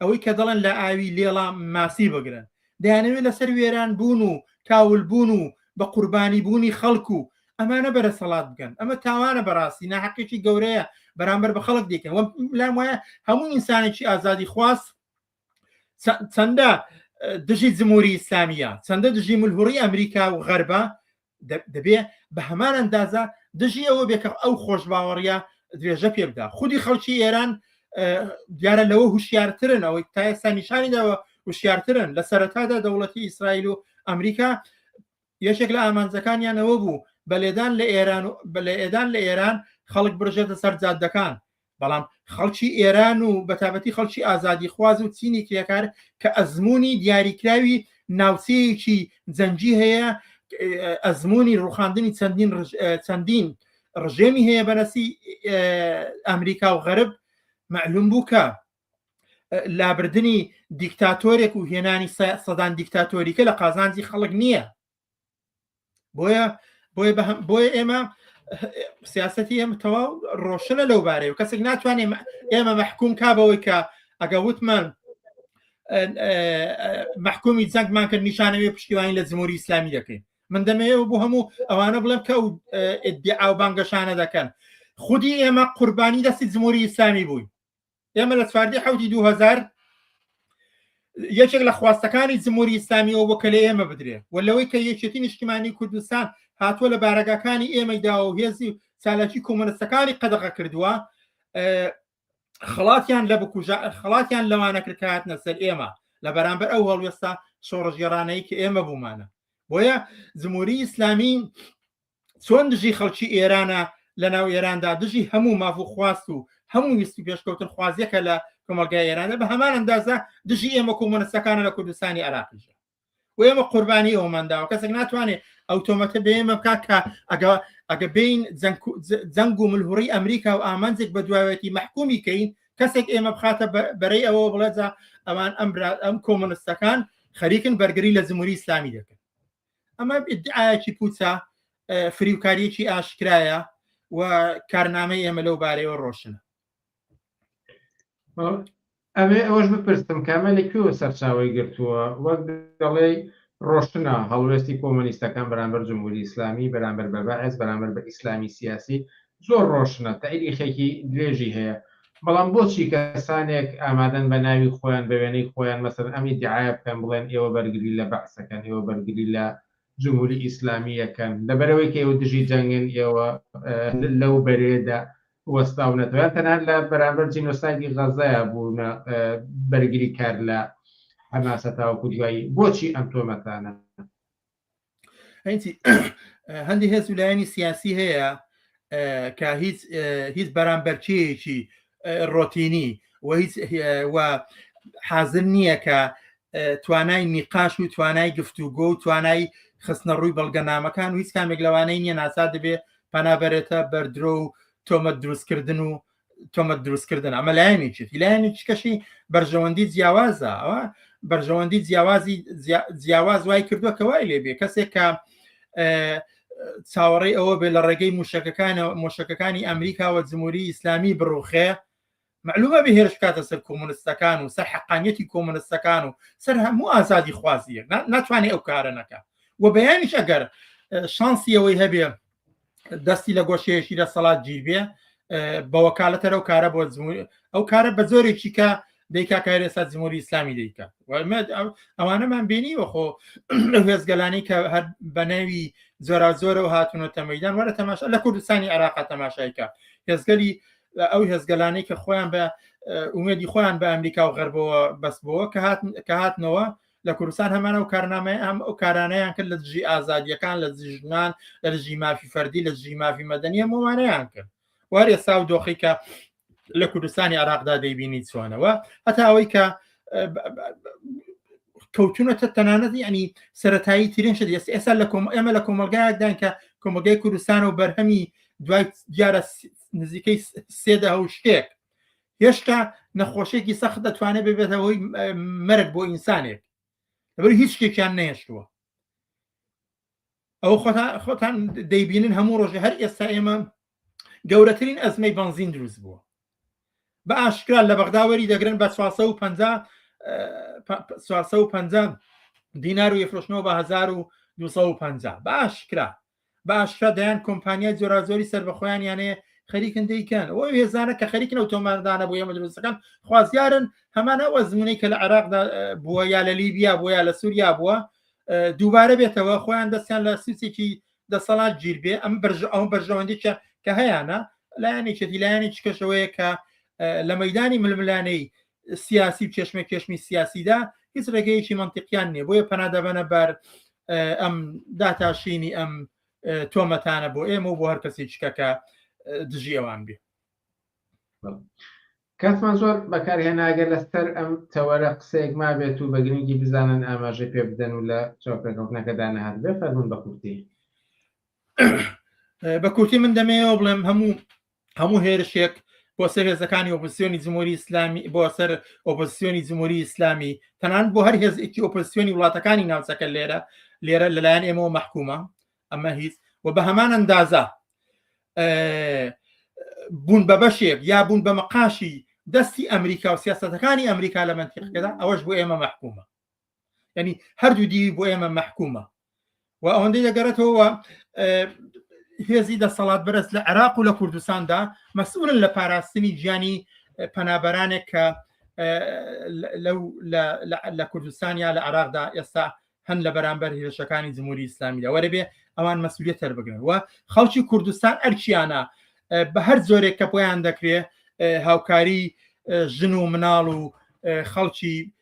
ئەوەی کە دەڵێن لە ئاوی لێڵام ماسی بگرن دەیانەوێت لەسەر وێران بوون و کاول بوون و بە قوربانی بوونی خەڵک و ئەمانە بەرە سەڵات بگەن ئەمە تاوانە بەڕاستی ناحقێکی گەورەیە بەرامبەر بە خەڵک دیکە لام وایە هەموو ئینسانێکی ئازادی خواست چەندە دژی جمهوری ئیسلامیە چەندە دژی ملهوڕی ئەمریکا و غەربە دەبێ بە هەمان ئەندازە دژی ئەوە بێکە ئەو خۆش باوەڕە درێژە پێ بدا خودی خەڵکی ئێران دیارە لەوە هوشیارترن ئەوەی تا ئێستا نیشانیداوە وشیارترن لە سەرەتادا دەوڵەتی ئیسرائیل و ئەمریکا یەکێک لە ئامانجەکانیان ئەوە بوو بە لێدان لە ئێران و بە لە ئێدان لە ئێران خەڵک بڕژێتە سەر جادەکان بەڵام خەڵکی ئێران و بەتابەتی خەڵکی ئازادی خواز و چینی کرێکار کە ئەزمموی دیاریکراوی ناوچەیەکی جەنگی هەیە ئەزمموی ڕوخاندنی چەندین چەندین ڕژێمی هەیە بەنەسی ئەمریکا و غەرب معلوم بوو کە لابردنی دیکتاتۆرێک و هێنانی سەدان دیکتاتۆریکە لە قازانجی خەڵک نییە بۆیە بۆیە بەهم بۆیە ئێمە سیاستی ئێمە تەواو ڕۆشنە لەو بارەیە و کەسێک ناتوانێت ئێمە مەحکوم کا بەوەی کە ئەگە وتمان محکومی جەنگمان کرد نیشانەوێ پشتیوانی لە جمهوری ئیسلامی دەکەین من دەمەیە بۆ هەموو ئەوانە بڵێم کە ئەو ئیدعا و بانگەشانە دەکەن خودی ئێمە قوربانی دەستی جمهوری ئیسلامی بووین ئێمە لە چواردی حوتی دو هزار یەکێک لە خواستەکانی جمهوری ئیسلامیەوە بۆ کە لە ئێمە بدرێ و لەوەی کە یەکێتی نیشتیمانی کوردستان هاتووە لە بارەگاکانی ئێمەی داوە و هێزی و چالاکی کۆمەنستەکانی قەدەغە کردووە خڵاتیان لە بکوژە خڵاتیان لەوانە کرکات نەسەر ئێمە لە بەرامبەر ئەو هەڵوێستا شۆڕژگەڕانەی کە ئێمە بوومانە بۆیە جمهوری ئیسلامی چۆن دژی خەڵکی ئێرانە لە ناو ئێراندا دژی هەموو مافو خواست و هەموو ویست و پێشکەوتن خوازیەکە لە کۆمەلگای ئێرانە بە هەمان ئەندازە دژی ئێمە کۆمۆنستەکانە لە کوردستانی عراقیش و ئێمە قوربانی ئەومان داوە کەسێک ناتوانێت ئەو تۆمەتە بێمە بکات کە ئەگە ئەگە بین جەنگ و ملهوڕی ئەمریکا و ئامانجێک بە دواوێتی مەحکومی کەین کەسێک ئێمە بخاتە بەرەی ئەوە بڵێجا ئەوان ئەم ئەم کۆمۆنستەکان خەریکن بەرگری لە زموری ئسلامی دەکەن ئەمە ئیدعایەکی پوچە فریوکاریەکی ئاشکرایە و کارنامەی ئێمە لەو بارەیەوە ڕۆشنە ئەمێ ئەوەش بپرسم کامە لە کوێوە سەرچاوی گرتووە وەک دەڵێ ڕۆشنە هەڵوێستی کۆمەنیستەکان بەرامبەر جمهوری ئیسلامی بەرامبەر بە بەعس بەرامبەر بە ئیسلامی سیاسی زۆر ڕۆشنە تەئریخێکی درێژی هەیە بەڵام بۆچی کەسانێک ئامادەن بە ناوی خۆیان بە وێنەی خۆیان مەسەلەن ئەم ئیدعایە بکەن بڵێن ئێوە بەرگری لە بەعس ئەکەن ئێوە بەرگری لە جمهوری ئیسلامی ئەکەن لەبەرئەوەی کە ئێوە دژی جەنگن ئێوە لەو بەرێدا وەستاونەتەوە یان تەنها لە بەرامبەر جینۆسایدی غەزەیە بوونە بەرگری کار لە حەماسە تاوەکو دوایی بۆچی ئەم تۆمەتانە؟ هەندی هێز و لایەنی سیاسی هەیە کە هیچ هیچ بەرامبەرچەیەکی ڕۆتینی و هیچ حازر نییە کە توانای نیقاش و توانای گفتوگۆ و توانای خستنە ڕووی بەڵگەنامەکان و هیچ کامێک لەوانەی نیە ناسا دەبێ پەنابەرێتە بەردرۆ و تۆمە دروستکردن و تۆمەت دروستکردن ئەمە لایەنێکێتی لایەنێکی کەشی بەرژەوەندی جیاوازە ئەوە بەرژەوەندی جیاوازی جیاواز وای کردووە کە وای لێبێ کەسێک کە چاوەڕێی ئەوە بێ لە ڕێگەی موشەکەکانە مۆشەکەکانی ئەمریکاوە جمهوری ئیسلامی بڕوخێ معلومە بە هێرش کاتە سەر کۆمونستەکان و سەر حقانیەتی کۆمونستەکان و سەر هەموو ئازادی خوازیە ناتوانێت ئەو کارە نەکە و بەیانیش ئەگەر شانسی ئەوەی هەبێ دەستی لە گۆشەیەشی دەسەڵات گیربێ بە وەکالەتەر ئەو کارە بۆ ئەو کارە بە زۆرێکی کە دیکا کار ئێستا جمهوری ئسلامی دیکە ئەوانەمان بینی وەخۆ هێزگەلانی کە هەر بە ناوی زۆرا زۆرەوە هاتونە تەمەدان وەرە تەماشا لە کوردستانی عراقا تەماشایکە هێزگەلی ئەو هێزگەلانی کە خۆیان بە ئومێدی خۆیان بە ئەمریکا و غەربەوە بەسبەوە کە هاتن کە هاتنەوە لە کوردستان هەمان ئەو کارنامەیە ئەم ئەو کارانەیان کرد لە دژی ئازادیەکان لە دژی ژنان لە دژی مافی فەردی لە دژی مافی مەدەنی هەمووانەیان کرد وار ئێستا و دۆخی کە لە کوردستانی عراقدا دەیبینی چۆنەوە هەتا ئەوەی کە کەوتونەتە تەنانەت ینی سەتایی ترین شت ئێستا ئێستا لە کۆم ئێمە لە کۆمەلگایدان کە کۆمەگەی کوردستان و بەرهەمی دوای دیارە نزیکەی سێدە هەو شتێک هێشتا نەخۆشێکی سەخت دەتوانێت ببێتە هۆی مەرگ بۆ ئینسانێک لەبەر هیچ شتێکیان نەهێشتووە ئەو خۆتان دەیبینن هەموو ڕۆژە هەر ئێستا ئێمە گەورەترین ئەزمەی بنزین دروست بووە بە ئاشکرا لە بەغداوەری دەگرن بە 450 دینار و یفرۆشنەوە بە 1950 بە ئاشکرا بە ئاشکرا دەیان کۆمپانیای جۆراجۆری سربەخۆیان یانەیە خەریکن دەیکەن ئەو هێزانە کە خەریکن ئەو تۆماردانە بۆ ئێمە دروستەکان خوازیارن هەمان ئەو ئەزمونەی کە لە عێراقدا بووە یا لە لیبیا بووە یا لە سووریا بووە دووبارە بێتەوە خۆیان دەستیان لە سوچێکی دەسەڵات گیر بێ ئەم بەرژ ئەو بەرژەوەندیکە کە هەیەە لایەنێکێتی لایەنێک کەشەوەیە کە لە مەدانی ململانەی سیاسی و کێشمە کێشمی سیاسیدا هیچ ڕێگەیەکی منتیقیان نیە بۆیە پەنادەبەنە بەر ئەم داتاشینی ئەم تۆمەتانە بۆ ئێمە و بۆ هەر کەسی چکەکە دژی ئەوان بێ کاتمان زۆر بەکارهێناگە لەسەر ئەم تەوەرە قسەیەک ما بێت و بە گرنگی بزانن ئاماژەی پێ بدەن و لە چاوپێکەوتنەکەدا نەهات بێ فەرمون بە کورتی بە کورتی من دەمەوە بڵێم هەموو هەموو هێرشێک بۆ سەر هێزەکانی ئۆپسیۆنی جمهوری ئیسلامی بۆ سەر ئۆپسیۆنی جمهوری ئیسلامی تەنان بۆ هەر هێزێکی ئۆپسیۆنی وڵاتەکانی ناوچەکە لێرە لێرە لەلایەن ئێمەوە محکومە ئەمە هیچ و بە هەمان ئەندازە بوون بە بەشێک یا بوون بە مەقاشی دەستی ئەمریکا و سیاستەکانی ئەمریکا لە منتیقەکەدا ئەوەش بۆ ئێمە محکومە ینی هەردوو دیوی بۆ ئێمە مەحکومە و ئەوەندەی دەگەڕێتەوە هێزی دەسەڵات بەرز لە عێراق و لە کوردستاندا مەسئولن لە پاراستنی گیانی پەنابەرانێک کە لە کوردستان یا لە عراقدا ئێستا هەن لە بەرامبەر هێرشەکانی جمهوری ئیسلامیدا وەرەبێ ئەوان مەسوولێت تەربگرن و خەڵکی کوردستان ئەرکیانە بە هەر زۆرێک کە بۆیان دەکرێ هاوکاری ژن و مناڵ و خەڵکی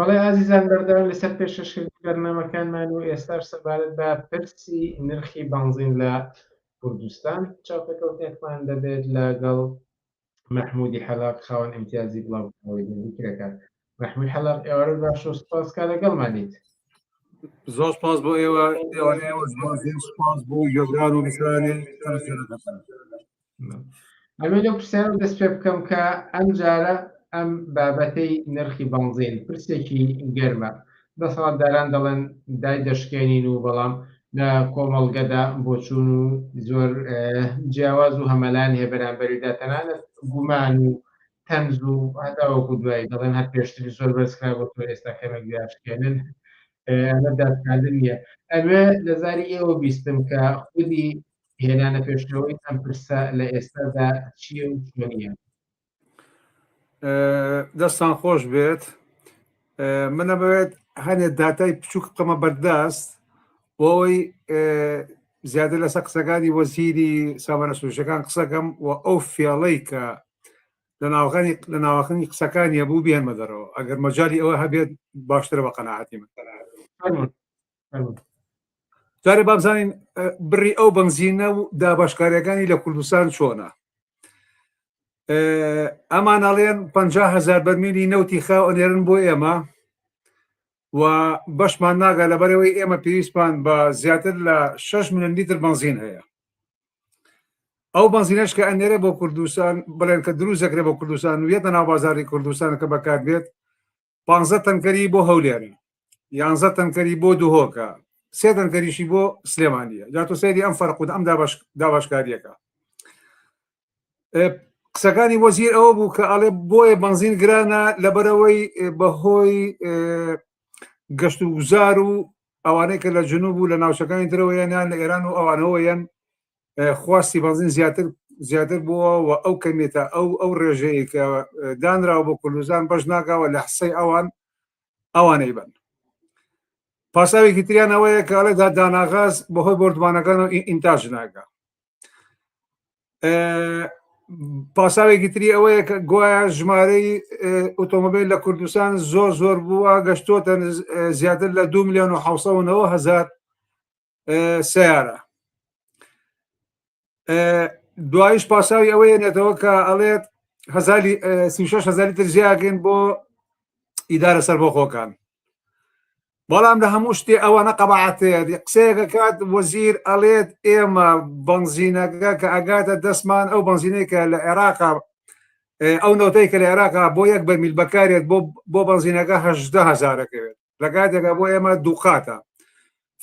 بەڵێ ئازیزان بەردەوام لەسەر پێشەشکردنی بەرنامەکانمان و ئێستاش سەبارەت بە پرسی نرخی بەنزین لە کوردستان چاوپێکەوتنێکمان دەبێت لەگەڵ مەحمودی حەلاق خاوەن ئیمتیازی بڵاوکراوەی دەنگی کرێکار مەحمود حەلاق ئێوارە باش و سپاس کا لەگەڵمانیت زۆر سپاس بۆ ئێوە سپاس بۆ گەزار و میسرانی ئەمە لەو پرسیارە دەست پێ بکەم کە ئەم جارە ئەم بابەتەی نرخی بەنزین پرسێکی گەرمە دەسەڵاتداران دەڵێن دایدەشکێنین و بەڵام لە کۆمەڵگەدا بۆچوون و زۆر جیاواز و هەمەلایەن هەیە بەرامبەریدا تەنانەت گومان و تەنز و هەتا وەکو دوایی دەڵێن هەر پێشتری زۆر بەرزکرا بۆ تۆ ئێستا کەمێک داشکێنن ئەمە دادکاندن نییە ئەوێ لە زاری ئێوە بیستم کە خودی هێنانە پێشەوەی ئەم پرسە لە ئێستادا چییە و چۆنیە دەستان خۆش بێت منە بەوێت هەنێ داتای بچووک بقەمە بەردەست بۆی زیاتر لەسەر قسەکانی وەزیری سامانە سوشەکان قسەکەم و ئەو فێڵەی کە لە ناوغانی لە ناوەخنی قسەکانیە بوو بێنمە دەرەوە ئەگەر مەجای ئەوە هەبێت باشترە بە قەنەعاتی من جارێ بابزانین بڕی ئەو بنزینە و دابشکاریەکانی لە کوردستان چۆنە ئەمان ئەڵێن 500هزار بەرمیلی نەوتی خاو ئەنێرن بۆ ئێمە و بەشمان ناگا لە بەرەوەی ئێمە پێویستمان بە زیاتر لە 6 میلیۆن لیتر بنزین هەیە ئەو بنزینەش کە ئەنێرە بۆ کوردستان بڵێن کە دروست دەکرێت بۆ کوردستان و یەتە ناو بازاری کوردستان کە بەکات بێت پانزە تەنکەری بۆ هەولێر یانزە تەنکەری بۆ دوهۆکە سێ تەنکەریشی بۆ سلێمانە جا تۆ سەیری ئەم فەرق و ئەم داباشکاریەکە قسەکانی وەزیر ئەوە بوو کە ئەڵێ بۆیە بنزین گرانە لەبەرەوەی بەهۆی گەشت و گوزار و ئەوانەی کە لە جنوب و لە ناوچەکانی درەوەیانیان لە ئێران و ئەوانەوەیەن خواستی بەنزین زیاتر زیاتر بووە و ئەو کەمێتە ئەو ئەو ڕێژەیە کە دانراوە بۆ کوردستان بەش ناکەوە لە حسەی ئەوان ئەوانەی بن پاساوێکی تریان ئەوەیە کە ئەڵێ دا داناغاز بەهۆی بردوانەکان و ئینتاژ ناگە پاساوێکی تری ئەوەیە کە گوایە ژمارەی ئۆتۆمبیل لە کوردستان زۆر زۆر بووە گەشتۆتە زیاتر لە دو میلیۆن و هزار سیارە دوایش پاساوی ئەوەیە نێتەوە کە ئەڵێت هزاری هزاری تر زیاگەن بۆ ئیدارە سەربەخۆکان بەڵام لە هەموو شتێ ئەوانە قەبعاتەیە قسەیەکە کات وەزیر ئەڵێت ئێمە بنزینەکە کە ئەگاتە دەستمان ئەو بنزینێکە لە عێراقا ئەو نەوتەی کە لە عێراقا بۆ یەک بەرمیل بەکارێت بۆ بۆ بنزینەکە هەهزارەکەوێت لە کاتێکە بۆ ئێمە دووقاتە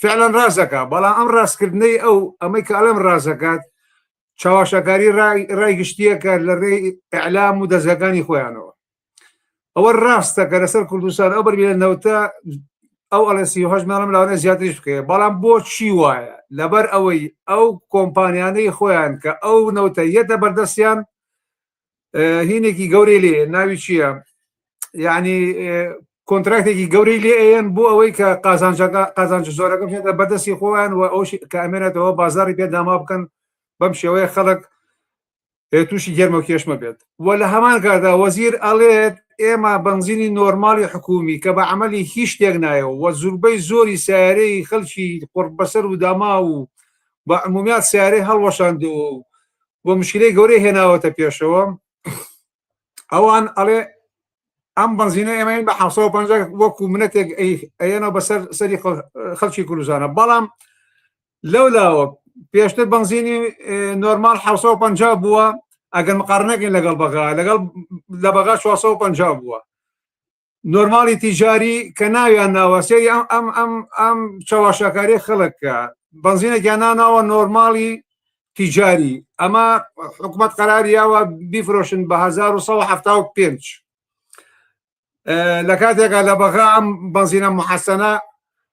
فعلەن ڕاستەکە بەڵام ئەم ڕاستکردنەی ئەو ئەمەی کە ئەلم ڕاستەکات چاواشەکاری ڕای گشتیەکە لە ڕێ ئەلام و دەزگەکانی خۆیانەوە ئەوە ڕاستە کە لەسەر کوردستان ئەو بەربیە نەوتە ئەو ئەلسیهش ماڵم لاوانە زیاتریش بکەێ بەڵام بۆ چی وایە لەبەر ئەوەی ئەو کۆمپانیانەی خۆیان کە ئەو نەوتە یەتە بەردەستیان هینێکی گەورەی لێ ناوی چییە یعنی کۆنتراکتێکی گەورەی لێ ئەیەن بۆ ئەوەی کە قازانجەکە قازانج زۆرەکە بێتە بەدەستی خۆیان و ئەو کامێنێتەوە بازاری پێ داما بکەن بەم شێوەیە خەڵک تووشی گەرمە کێشمە بێت و لە هەمان کاردا وەزیر ئەڵێت ئێمە بنزینی نۆرمالی حکومی کە بە عملی هیچ شتێک نایە و زوربەی زۆری سیارەی خەلکی قڕ بەسەر و داما و بە عمومیات سیارەی هەڵوەشاندەوە و بۆ مشکلەی گەورەی هێناوەتە پێشەوە ئەوان ئەڵێ ئەم بنزینە ئێمەین بە 1950 وەکو منەتێک ئەیەنەوە بەسەر سەری خەڵکی کوردزانە بەڵام لەو لاوە پێشتر بنزینی نۆرمال 1950 بووە ئەگەر مقارنەکەین لەگەڵ بەغا لەگەڵ لە بەغا 1950 بووە نۆرماڵی تیجاری کە ناویان ناوە سێری ئەم ئەم ئەم ئەم چاواشاکاری خەڵککە بەنزینێکیان ناناوە نۆرماڵی تیجاری ئەمە حکومت قەراریاوە بیفرۆشن بە 1970 لە کاتێکە لە بەغا ئەم بەنزینە محەسەنە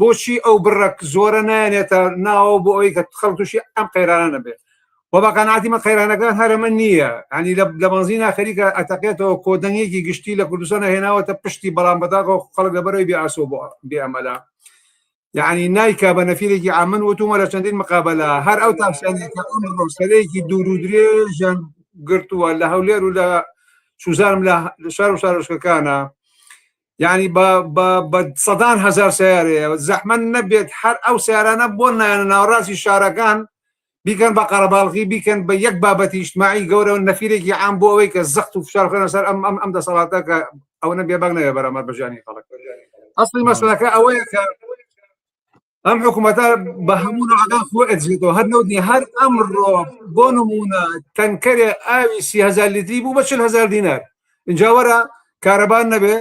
بۆچی ئەو بڕە زۆرە نایەنێتە ناوە بۆ ئەوی کە خەڵ تووشی ئەم قەیرانە نەبێت و بەقەناتی من قەیرانەکان هەرەمە نییە ئەنی لە بەنزی ناخەریکە ئەتەقێتەوە کۆدەنگێکی گشتی لە کوردستان هێناوەتە پشتی بەڵام بەداغ خەڵک لەبەرەوەی بێئاسۆ بۆ بێئەمەلا یعنی نایکا بە نەفیرێکی ئامن وتومە لە چەندین مقابلە هەر ئەو تاکسیانێکی دوور و درێژەن گرتووە لە هەولێر و لە سوزانم لە شار و شارۆشکەکانە یانی بە بە بە سەدان هەزار سیارەیە زەحمە نەبێت هەر ئەو سیارانە بۆ نایەنە ناوەڕاستی شارەکان بیکەن بە قەرەباڵغی بیکەن بە یەک بابەتی ئیجتماعی گەورە و نەفیرێکی عام بۆ ئەوەی کە زەخت و فشار بخەنە سەر ئەم ئەم ئەم دەسەڵاتە کە ئەوەنە بێبەنگ نەبێ بەرامبەر بە ژیانی خەڵک ئەسڵی مەسەلەکە ئەوەیە کە ئەم حکوومەتە بە هەموو نادا خۆ ئەجێتەوە هەر نەوت نیە هەر ئەمڕۆ بۆ نمونە تەنکەرێ ئاوی سیهزار لیتری بوو بە چل هزار دینار اینجا وەرە کارەبان نەبێ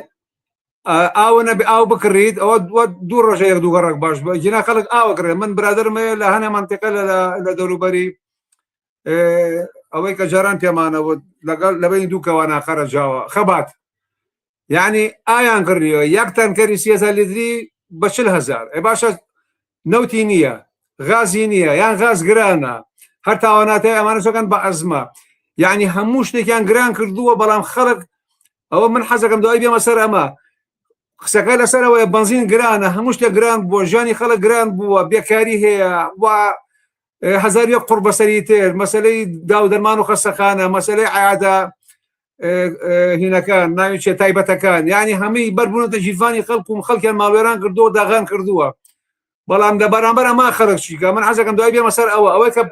ئاوە نەبێ ئاو بکڕیت ئەوە دووە دوو ڕۆژە یەک دوو گەڕک باش بە جینا خەڵک ئاوە کڕێ من برادرمەیە لە هەنێ منتیقە لە لە دەوروبەری ئەوەی کە جاران پێمانەوە لەگەڵ لەبەین دوو کەوانە خەرەجاوە خەبات یعنی ئایان گڕیەوە یەک تەنکەری سیێزە لیدری بە چل هزار ئە باشە نەوتی نییە غازی نییە یان غاز گرانە هەر تاواناتای ئەمانە سەکەن بە ئەزمە یعنی هەموو شتێکیان گران کردووە بەڵام خەڵک ئەوە من حەزەکەم دوای بێمە سەر ئەمە قسەکە لەسەرەوەی بنزین گرانە هەموو شتە گران بۆ ژانی خەڵک گران بووە بێکاری هەیە و هەزار یەک قوڕ بەسەری تێر مەسلەی داو دەرمان و خەسەخانە مەسلەی عادە هینەکان ناوی چێ تایبەتەکان یعنی هەمووی بەربوونەتە ژیرفانی خەڵکم خەڵکیان ماوێران کردو داغان کردووە بەڵام لە بەرامبەر ئەما خەرق چیکە من حەزەکەم دوای بێمە سەر ئەوە ئەوەی کە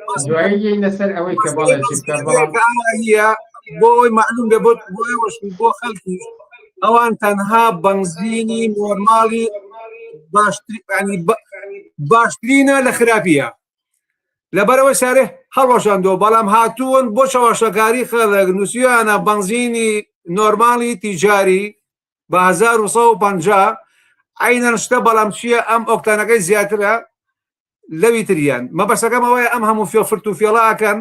لەسەر ئەوەی کە بەڵێ بۆ ئەوەی معلوم بێ بۆ خەڵکی ئەوان تەنها بەنزینی نۆرماڵی باشترانی باشترینە لە خراپیە لەبەرەوە شارێ هەڵۆشاندۆ بەڵام هاتوون بۆ چەواشەکاری خەڵک نووسیانە بەنزینی نۆرماڵی تیجاری بە 1950 عینەن شتە بەڵام چییە ئەم ئۆکتانەکەی زیاترە لەوی تریان مەبەسەکەم ئەوەیە ئەم هەموو فێ فرت و فێڵاکەن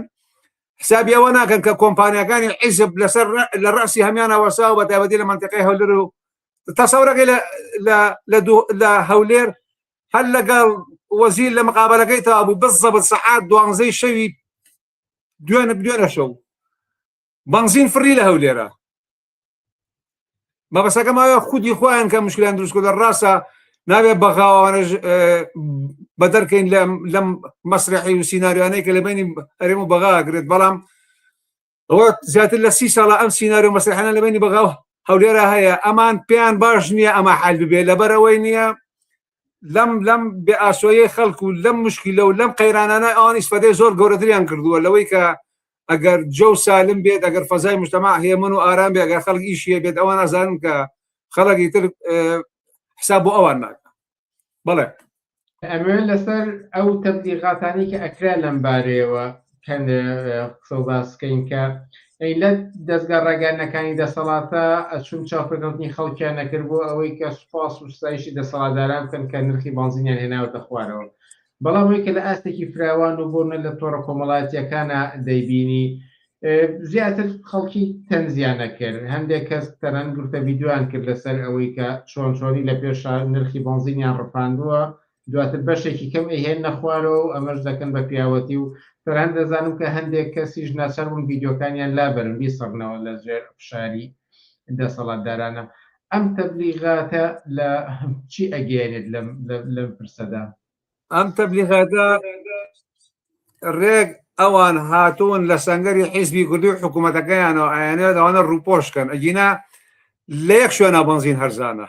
حسابی ئەوە ناکەن کە کۆمپانیەکانی عیزب لەسەر لە ڕاستی هەمیانە وەساوە بە تایبەتی لە منتەکەی هەولر و تەسەورەکەی لە هەولێر هەر لەگەڵ وەزیر لە مقابلەکەی تا بوو بەس زەبت سەعات دوانزەی شەوی دوێنە بدوێنە شەو بەنزین فڕی لە هەولێرە مەبەسەکەم ئایا خودی خۆیان کە مشکلیان دروستکە لە ڕاستە ناوێ بەغاوانش بە دەرکەین لەم مەسرحی و سینناریوانەی کە لە بینی ئەرێم و بەغاگرێت بەڵام ئەوە زیاتر لە سی ساڵە ئەم سینناریو و مەسرحانە لە بینی بەغاوە هەولێرا هەیە ئەمان پێیان باش نییە ئەمە حال ببێ لەبەرەوەی نییە لەم لەم بێ ئاسۆیە خەڵک و لەم مشکیلە و لەم قەیرانانە ئەوان ئیسفەدەی زۆر گەورەتریان کردووە لەوەی کە ئەگەر جە و سالم بێت ئەگەر فەزای مشتەما هێمن و ئارام بێ ئەگەر خەڵک ئیشیە بێت ئەوان ئازانن کە خەڵکی تر حساب بۆ ئەوان ناکە بەڵێ ئەمە لەسەر ئەو تەبلیغاتانی کە ئەکرا لەم بارەیەوە قسە و باس بکەین کە ئەی لە دەستگا ڕاگەیاندنەکانی دەسەڵاتە ئەچوون چاوپێکەوتنی خەڵکیان نەکرد بۆ ئەوەی کە سوپاس و ستایشی دەسەڵاتداران بکەن کە نرخی بەنزینیان هێناوەتە خوارەوە بەڵام ئەوەی کە لە ئاستێکی فراوان و بۆنە لە تۆڕە کۆمەڵاتیەکانە دەیبینی زیاتر خەڵکی تەنزیانە کرد هەندێک کەس تەنان گرتە ڤیددیوان کرد لەسەر ئەوەی کە چۆن چۆنی لە پێشا نرخی بەنزینیان ڕفاندووە دواتر بەشێکی کەم ئەیهێننە خوارەوە و ئەمەش دەکەن بە پیاوەتی و تەنانەت دەزانم کە هەندێک کەسیش ناچار بوون ڤیدیۆکانیان لابەرن بیسڕنەوە لە ژێر فشاری دەسەڵاتدارانە ئەم تەبلیغاتە لە چی ئەگەێنێت لەم پرسەدا ئەم تەبلیغاتە ڕێک ئەوان هاتوون لە سنگەری حیزبی کوردی و حکوومەتەکەیانەوە ئایانەوە داوانە ڕووپۆشکەن ئەگینا لە یەک شوێنە بەنزین هەرزانە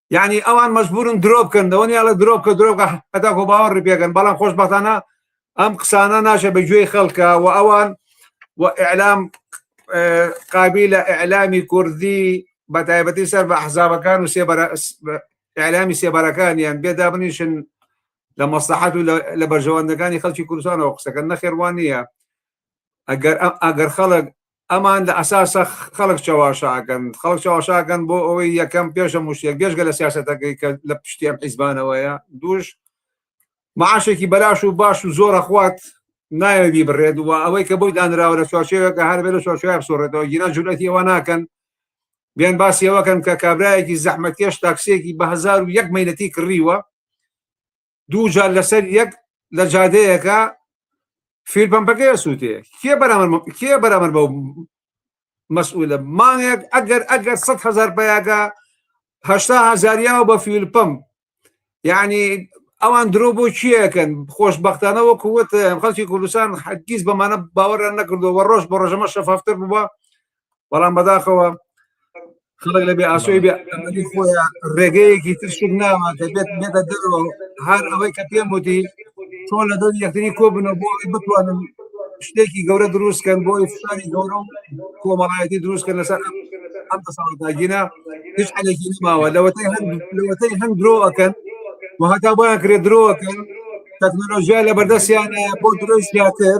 یعنی ئەوان مەجبورن درۆ بکەن دەوەنیاڵە درۆ بکە درۆ بکە هەتاکۆ باوەڕ پێکەن بەڵام خۆشبەتانە ئەم قسانە ناشە بە گوێی خەڵکە و ئەوان و ئەلام قابی لە ئەلامی کوردی بە تایبەتی سەر بە حزابەکان و ئەلامی سێبارەکانیان بێدابنیشن لە مەسلحات و لە بەرژەوەندەکانی خەڵکی کوردستانەوە قسەکە نەخێوان نییە ئەگەر ئەگەر خەڵک ئەمان لە ئەساسا خەڵک چەواشە ئەکەن، خەڵک چەواشە ئەکەن بۆ ئەوەی یەکەم پێش هەموو شتێک بێژگە لە سیاسەتەکەی کە لە پشتی ئەم حیزبانەوەیە، دووش معاشێکی بەلاش و باش و زۆر ئەخوات نایەوێت بیبڕێت و ئەوەی کە بۆی دانراوە لە چوارچێوێکە هەر بێ لە چوارچێوە بسۆڕێتەوە گیران جورئەتی ئەوە ناکەن بێن باسی ئەوەکەن کە کابرایەکی زەحمەتکێش تاکسیەکی بە هەزار و یەک مەینەتی کڕیوە دوو جار لەسەر یەک لە جادەیەکە فیل پمپەکەی ئەسووتێ کێ بەرامەر کێ بەرامەر بە مەسئولە مانگێک ئەگەر ئەگەر سە هزار پیاگە هشتا هزاریا و بە فیل پم یعنی ئەوان درۆ بۆ چیەکەن خۆشببختانە وەکو وت خەڵکی کوردستان حەگیز بەمانە باوەڕیان نەکردو وە ڕۆژ بە ڕۆژەمە شەفافتر بووە بەڵام بەداخەوە خەڵک لە بێ ئاسۆی بێ خۆیان ڕێگەیەکی تر شک ناوە دەبێت بێتە دەرەوە هەر ئەوەی کە پێم وتی چۆن لە دەست یەکتری کۆ بنەوە بۆ ئەوی بتوانن شتێکی گەورە دروستکەن بۆی فشاری گەورە و کۆمەڵایەتی دروستکەن لەسەر ئەم دەسەڵاتداگیرە هیچ حەلێکی نماوە لەوەتەی هەند لەوەتەی هەند درۆ ئەکەن و هەتا بۆیان کرێ درۆکەن تەکنۆلۆژیا لە بەردەستیانە بۆ درۆی زیاتر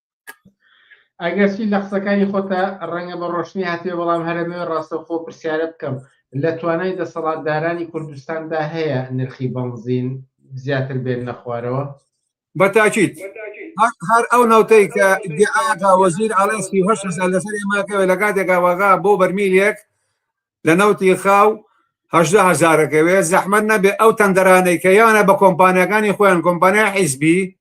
ئەگەرچی لە قسەکانی خۆتا ڕەنگە بە ڕۆشنی هاتێ بەڵام هەرەمەوێ ڕاستەوخۆ پرسیارە بکەم لە توانای دەسەڵاتدارانی کوردستاندا هەیە نرخی بەنزین زیاتر بێن نەخوارەوە بە تاکیت هەر ئەو نەوتەی کە دیعاگا وەزیر ئەڵێ سی هەش هەزار لەسەر ئێماکەوێت لە کاتێکا وەغا بۆ بەرمیلێک لە نەوتی خاو هەشدا هەزارەکەوێت زەحمەت نەبێ ئەو تەندەرانەی کە یانە بە کۆمپانیەکانی خۆیان کۆمپانیا حیزبی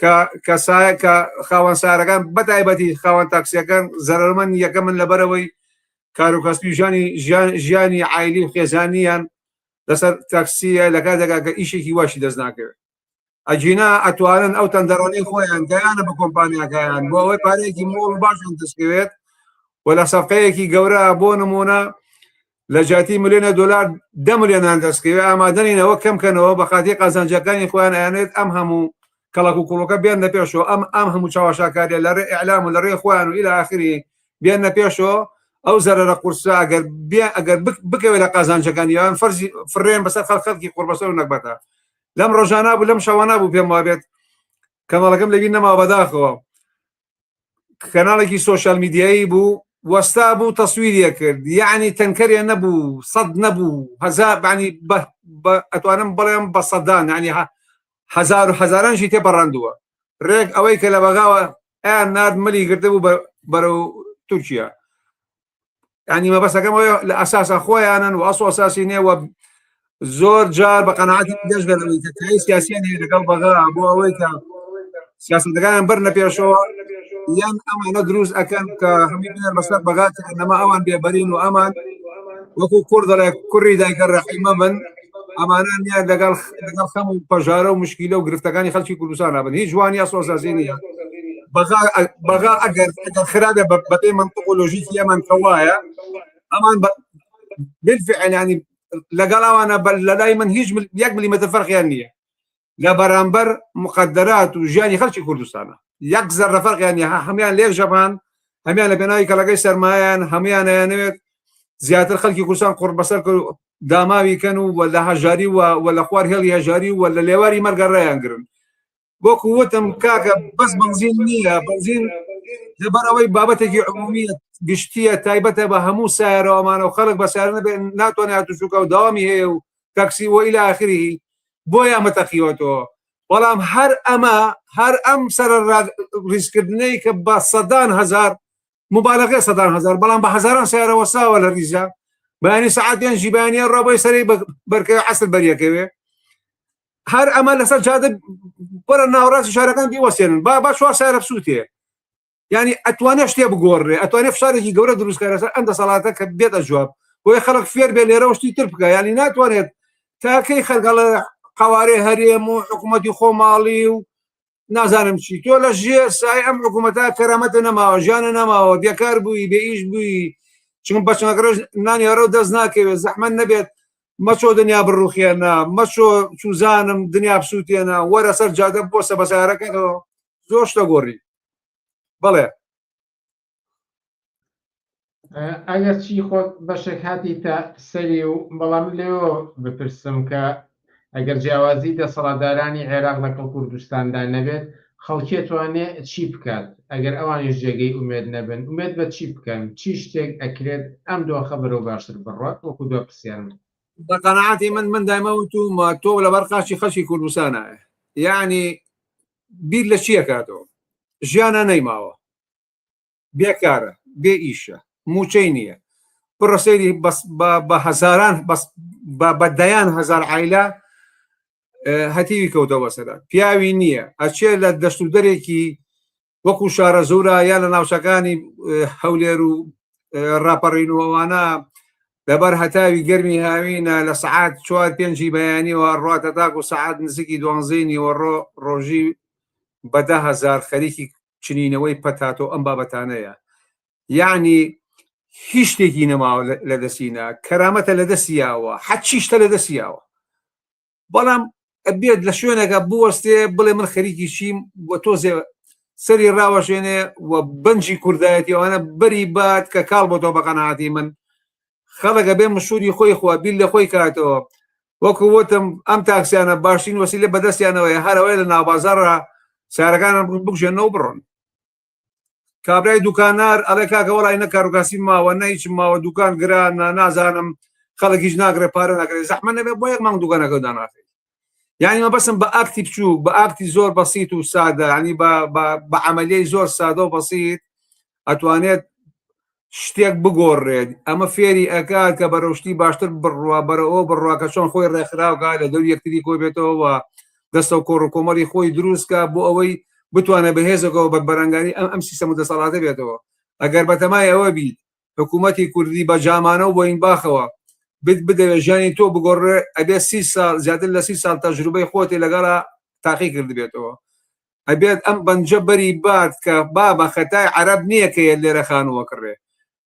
کە کەسایە کە خاوەن سارەکان بەتایبەتی خاوەن تاکسیەکان زەرمەند یەکە من لەبەرەوەی کاروکەسپیژانی ژیان ژیانی عیلی و خێزانیان لەسەر تاکسیە لە کاتێکا کە ئیشێکی واشی دەست ناکەوێت ئەجینا ئەتوانن ئەو تەندەرانی خۆیان گەیانە بە کۆمپانیاکەیان بۆ ئەوەی پارەیەکی مۆڵ باشن دەستکەوێت و لە سەفەیەکی گەورە بۆ نمونە لە جیاتی ملێنە دۆلار دە ملێنان دەستکەوێ ئامادەنینەوە کەم کەنەوە بە خاتی قازانجەکانی خۆیان ئەیانێت ئەم هەموو کەڵک و کوڵەکە بێن لە پێشەوە ئەم ئەم هەموو چاوەشاکاریە لە ڕێ ئەلام و لە ڕێ خۆیان و ئیلا ئاخری بێن لە پێشەوە ئەو زەرەرە قورسە ئەگەر بێ ئەگەر بکەوێت لە قازانجەکان یان فەرزی فرێن بەسەر خەڵ خەڵکی قوربەسەر و نەکبەتە لەم ڕۆژانە بوو لەم شەوانە بوو پێم وابێت کەمەڵەکەم لەبی نەما بەداخەوە کەناڵێکی سوۆشال میدیایی بوو وەستا بوو تەسویریە کرد یعنی تەنکەرێ نەبوو سەد نەبوو هەزار بانی ئەتوانم بڵێم بە سەدان ینی هزار و هزارانشی تێ پەڕاندووە ڕێک ئەوەی کە لە بەغاوە ئەیان نرد ملی گرتبوو بەرەو تورکیا ینی مەبەستەکەم لە ئەساسا خۆیانن و ئەسڵ ئەساسی نێ وە زۆر جار بە قەنەعاتی دەست دەرەوەی کە کاری سیاسیان هەیە لەگەڵ بەغا بۆ ئەوەی کە سیاستەکان بەر نەپێشەوە یان ئەمانە دروست ئەەکەن کە هەمی بنەر بەسەر بەغات نەما ئەوان بێبەرین و ئەمان وەکو کوردڵێک کوڕی دایکە ڕەحیمە من ئەمانە نیە لەگەڵ لەگەڵ خەم و پەژارە و مشکیلە و گرفتەکانی خەڵکی کوردستان نابن هیچ جوانی یا سۆزازی نیە بەغا ئەگەر خراپە بەپێ منطق و لۆژیکی ئەمان کە وایە ئەمان بالفعل ینی لەگەڵاوانە بەر لە لای من هیچ یەک ملیمەتە فەرقیان نییە لە بەرامبەر مقەدەرات و ژیانی خەڵکی کوردستانە یەک زەرە فەرقیان نیە هەمیان لێک ژەبان هەمیان لە پێناوی کەڵەکەی سەرمایان هەمیان ئەیانەوێت زیاتر خەڵکی کوردستان قڕ بەسەر کرد و داماوی کەن و وە لە هەژاری و وە لە خوار هێڵی هەژاری و وە لە لێواری مەرگە ڕێیان گرن وەکو وتم کاکە بەس بەنزین نییە بەنزین لەبەر ئەوەی بابەتێکی عمومیە گشتیە تایبەتە بە هەموو سایرەوەمانە و خەڵک بە سارنە بێ ناتوانێت توشوکە و داوامی هەیە و تەکسی و الی اخره بۆیان بەتەقیوەتەوە بەڵام هەر ئەمە هەر ئەم سەرە ریزکردنەی کە بە سەدان هزار مبالغێ سەدان هزار بەڵام بە هزاران سیارە وەساوە لە ریزە بەیانی سعاتیان ژیبانیان ڕۆبەی سەری بەرکەوێ عسر بەریەکەوێ هەر ئەمە لەسەر جادە بەرە ناوڕاستی شارەکان دیوەسێنن با با چوار سارە بسووتێ یانی ئەتوانێ شتێ بگۆڕێ ئەتوانێ فشارێکی گەورە دروستکە لەسەر ئەم دەسەڵاتە کە بێتە جواب بۆیە خەڵک فێر بێ لێرەوە شتی تر بکە ینی ناتوانێت تاکەی خەرگەڵە قوارێ هەرێم و حکوومەتی خۆماڵی و نازانم چی تۆ لە ژێ سای ئەم حکوومەتە کەرامەتە نەماوە ژیانە نەماوە بێکار بووی بێ ئیش بووی چون بەچنەکەش نانیارە و دەست ناکەوێت زەحمە نەبێت مەچۆ دنیا بڕوخێنە مەچۆ چوزانم دنیا بسووتێنە وەرە سەر جادە بۆ سە بەسارەکەەوە زۆر شتە گۆڕی بەڵێ ئەگەر چی خۆت بەشێک هاتی تا سەری و بەڵام لێەوە بپرسم کە ئەگەر جیاوازی دەسەڵاتدارانی عێراق لەگەڵ کوردستاندا نەبێت خەڵکێ توانێ چی بکات ئەگەر ئەوانیش جێگەی ئومێد نەبن ئومێد بە چی بکەن چی شتێک ئەکرێت ئەم دۆخە بەرەو باشتر بڕات وەکو دۆ پرسیارم بە قەنەعاتی من من دایمە وتومە تۆ لەبەر قاچی خەڵکی کوردستانە یعنی بیر لە چی ئەکاتەوە ژیانە نەیماوە بێکارە بێ ئیشە موچەی نییە بڕە سەیری بەس بە هەزاران بەس بە دەیان هەزار عیلا هەتیوی کەوتەوە سەرە پیاوی نییە ئەچێ لە دەست و دەرێکی وەکو شارە زورا یا لە ناوچەکانی هەولێر و ڕاپەڕینەوەوانە لەبەر هەتاوی گەرمی هاوینە لە سەعات چوار پێنجی بەیانیەوە ڕاتە تاک و سەعات نزیکی دوانزەی نیوەڕۆ ڕۆژی بە دە هەزار خەریکی چنینەوەی پەتاتۆ ئەم بابەتانەیە یعنی هیچ شتێکی نەماوە لە دەسینا کەرامەتە لە دەسیاوە حەچیشتە لە دەسیاوە بەڵام ئەبێت لە شوێنەکە بوەستێ بڵێ من خەریکی چیم بۆ تۆزێ سەری ڕاوەشێنێ و بەنجی کوردایەتی ئەوانە بەری بات کە کاڵ بۆ تۆ بەقەنەعاتی من خەڵەکە بێ مشوری خۆی خوا بیل لە خۆی کاتەوە وەکو وتم ئەم تاکسیانە باشترین وەسی لە بەدەستیانەوەی هەرەوەی لە ناوبازارە سارەکانم بگژێنەوە بڕۆن کابرای دوکانار ئەڵێ کاکە وڵی نە کاروکاسی ماوە نەیچ ماوە دوکان گرانە نازانم خەڵکیش ناگرێ پارە ناگرێت زەحمە نەبێ بۆ یەک مانگ دوگەنەکە داناخێت یعنی مە بەسم بە ئاکتی بچووک بە ئاکتی زۆر بەسییت و سادە ینی بە عملیی زۆر سادە و بەسییت ئەتوانێت شتێک بگۆڕێت ئەمە فێری ئەکات کە بەرەو شتی باشتر بڕوا بەرەوە بڕوا کە چۆن خۆی ڕێکخراوکە لە دەور یەکتری کۆ بێتەوە دەستە و کۆڕ و کۆمەڵی خۆی دروستکە بۆ ئەوەی بتوانێت بەهێزەکەەوە بە بەرەنگاری ئەم ئەم سیستەم و دەسەڵاتە بێتەوە ئەگەر بەتەمای ئەوە بیت حکوومەتی کوردی بە جامانە و بۆین باخەوە بت بدەوێت ژیانی تۆ بگۆڕێ ئەبێ سی ساڵ زیاتر لە سی ساڵ تەجروبەی خۆتی لەگەڵا تاقی کردبێتەوە ئەبێت ئەم بەنجە بەری بات کە بابە خەتای عەرەب نیە کە یەت لێرە خانووە کڕێ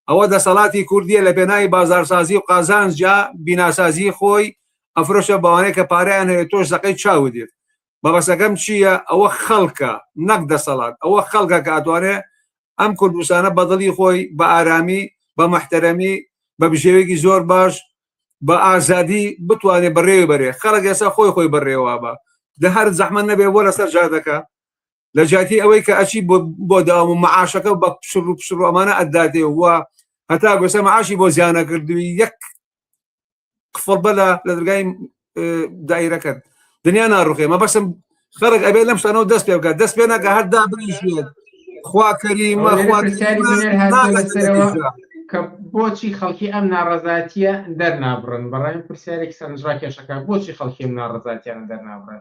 ئەوە دەسەڵاتی کوردیە لە پێناوی بازارسازی و قازانجا بیناسازی خۆی ئەفرۆشە بەوانەی کە پارەیان هەیە تۆش زەقەی چاوت یەت مەبەسەکەم چیە ئەوە خەڵکە نەک دەسەڵات ئەوە خەڵکە کە ئەتوانێ ئەم کوردستانە بەدڵی خۆی بە ئارامی بە مەحتەرەمی بە بژێوێکی زۆر باش بە ئازادی بتوانێت بەڕێوی بەرێ خەڵک ئێستا خۆی خۆی بەڕێوە بە لە هەر زەحمە نەبێ بۆ لەسەر جادەکە لە جاتی ئەوەی کە ئەچی بۆ داوام و معاشەکە بە پشڕ و پشڕ ئەمانە ئەدادێ وە هەتا گوسە معاشی بۆ زیانە کردوی یەک قفڵ بەلا لە دەرگای دایرەکەت دنیا ناڕوخێ مە بەسم خەرک ئەبێ لەم شتانەوە دەست پێ بکە دەست پێ ناکە هەر دابنیشێت خوا کەریمە کە بۆچی خەڵکی ئەم ناڕزاتیە دەرنابڕن بەڕێن پرسیارێک سەرنجڕا کێشەکە بۆچی خەڵکیم ناڕزاتیان دەرنابڕن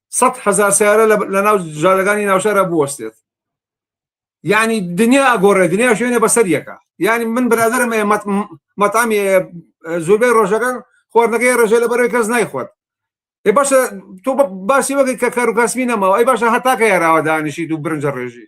سەد هزار سیارە لە ناو جادەکانی ناوشارە بوەستێت یعنی دنیا ئەگۆڕێ دنیا شوێنە بەسەر یەکە یعنی من برادرم مەتامی زۆربەی ڕۆژەکان خواردنەکەی ڕژێ لە بەرەوەی کەس نایخۆت ێ باشە تۆ باسی وەگەی کە کارو کاسمی نەماوە ئەی باشە هەتاکە یاراوە دانیشیت و برنجە ڕێژی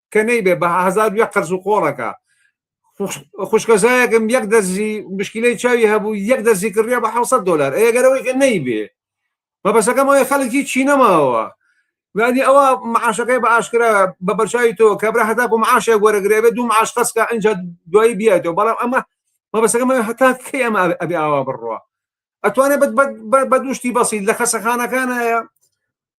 کە نەیبێ بە هەزار یە قەرز و قۆڵەکە خوشکەزایەکم یەک دەزی مشکلەی چاوی هەبوو یەک دەزی کڕیا بە 600 دلار ئەگەرەوەی کە نەیبێ مەبەسەکەم ئەوەی خەڵکی چی نەماوە وادی ئەوە معاشەکەی بە ئاشکرا بە بەرچوی تۆ کابرا هەتاکو معاشێک وەرەگرێ بێ دوو معاش قەسکە ئەجا دوایی بیاتەوە بەڵام ئەمە مەبەسەکەم هەتا کەی ئەمە ئەبێ ئاوا بڕوە ئەتوانێت بە دوشتی بەسی لە خەسەخانەکانە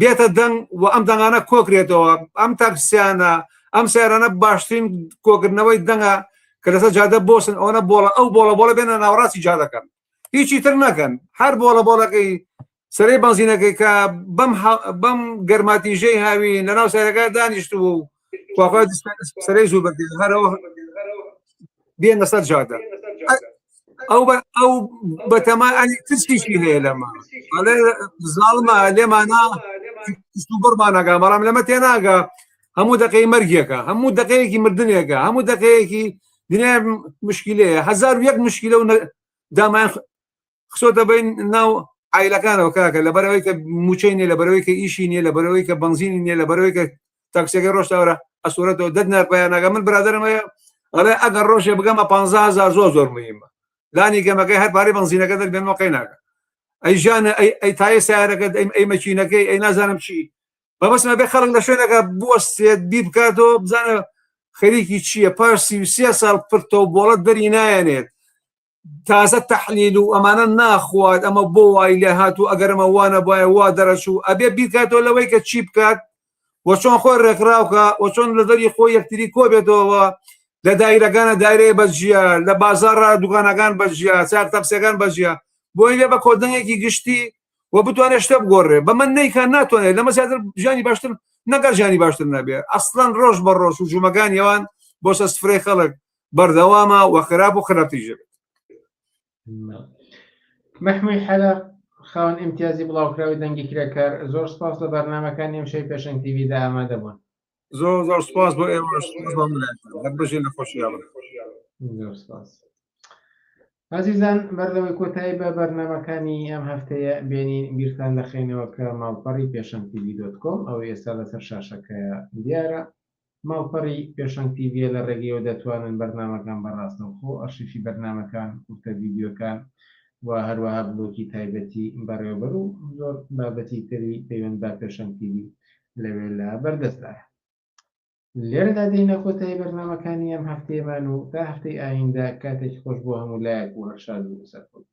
بێتە دەنگ و ئەم دەنگانە کۆکرێتەوە ئەم تاکسیانە ئەم سیارانە باشترین کۆکردنەوەی دەنگە کە لەسەر جادە بۆسن ئەوەنە بۆڵە ئەو بۆڵە بۆڵە بێنە ناوڕاستی جادەکەن هیچی تر نەکەن هەر بۆڵە بۆڵەکەی سەرەی بەنزینەکەی کە بەم بەم گەرماتیژەی هاوی لەناو سەرەکە دانیشت و وابا سەرەی زوو بەردێ هەرەوە بێنە سەر جادە ئەو ئەو بەتەما ئەنی ترسیشی هەیە لەمە ئەڵێ زاڵمە لێمانە بڕمانەگا بەڵام لەمە تێناگە هەموو دەقەی مەرگیەکە هەموو دەقەیەکی مردنێکە هەموو دەقەیەکی دنیا مشکلەیە هزار یەک مشکلە و دامان خسۆتە بین ناو ئایلەکانەوە کاکە لە بەرەوەی کە موچەی نیە لە بەرەوەی کە ئیشی نیە لە بەرەوەی کە بنزینی نیە لە بەرەوەی کە تاکسەکە ڕۆشتاورە ئەسوورەتەوە دەت نەرپیانەکە من برادرمەیە ئەڵێ ئەگەر ڕۆژێ بگەمە 15هزار زۆر زۆر مهمە لانی گەمەکەی هەر پارەی بنزینەکە دەبێنەوە قەیناکە ئەی ژانە ئەی تای سیارەکەت ئەم ئەی مەچینەکەی ئەی نازانم چی بەمەسمە بێ خەڵک لە شوێنەکە بوەستێت بی بکاتەوە بزانە خەریکی چییە پاش سی ساڵ پرتەوە بۆڵەت دەری نایەنێت تازە تەحلیل و ئەمانە ناخوات ئەمە بۆ وای لێ هات و ئەگەرمە وانە باە وا دەرەچوو ئەبێ بیکاتەوە لەوەی کە چی بکات وە چۆن خۆی ڕێکخراوکە وە چۆن لە دەری خۆی یەکتری کۆبێتەوە لە دایرەکانە دایرەیە بەجیە لە بازارڕ دوکانەکان بەجیە چار تەپسەکان بەجیە بۆی لێ بە کۆدنەیەکی گشتی و بتوانێت شتە بگۆڕێ بە من نیکان ناتوانێت لەمە زیاتر ژیانی باشتر نەگەر ژیانی باشتر نەبێت ئەسلەن ڕۆژ بە ڕۆژ و ژوومەکان یەوان بۆ سە سفرەی خەڵک بەردەوامە و خراپ و خراپتیژە بێت مەحموی حەلە خاوەن ئیمتیازی بڵاوکراوی دەنگی کرێکار زۆر سپاس لە بەرنمەکانی ئەم شەی پێشنگ تیویدا ئامادە بوون زۆر زۆر سپاس بۆ ئێوە بژی لە خۆشییا زۆر سپاس. ئازیزان بەردەوەی کۆتایی بە بەرنمەکانی ئەم هەفتەیە بێنین بیرتان دەخینەوە کە ماڵپەڕی پێشەنتی ویدۆت کۆم ئەو ئێستا لەسەر شاشەکە دیارە ماڵپەڕی پێشەنگ تیڤییە لە ڕێگەیەوە دەتوانن بەرنامەکان بە ڕاستەوخۆ، ئەرشیفی بەرنامەکان، کورتە ڤیدیۆکان و هەروەها بلۆکی تایبەتی بەڕێوەبەر و زۆر بابەتی تری پەیوەند بە پێشەنگ تیڤی لەوێ لە بەردەستدایە. لێرەدا دێینە کۆتایی بەرنامەکانی ئەم هەفتەیەمان و تا هەفتەی ئایندە کاتێکی خۆش بۆ هەموو لایەک و هەر شاد و سەرکەوتوو بن.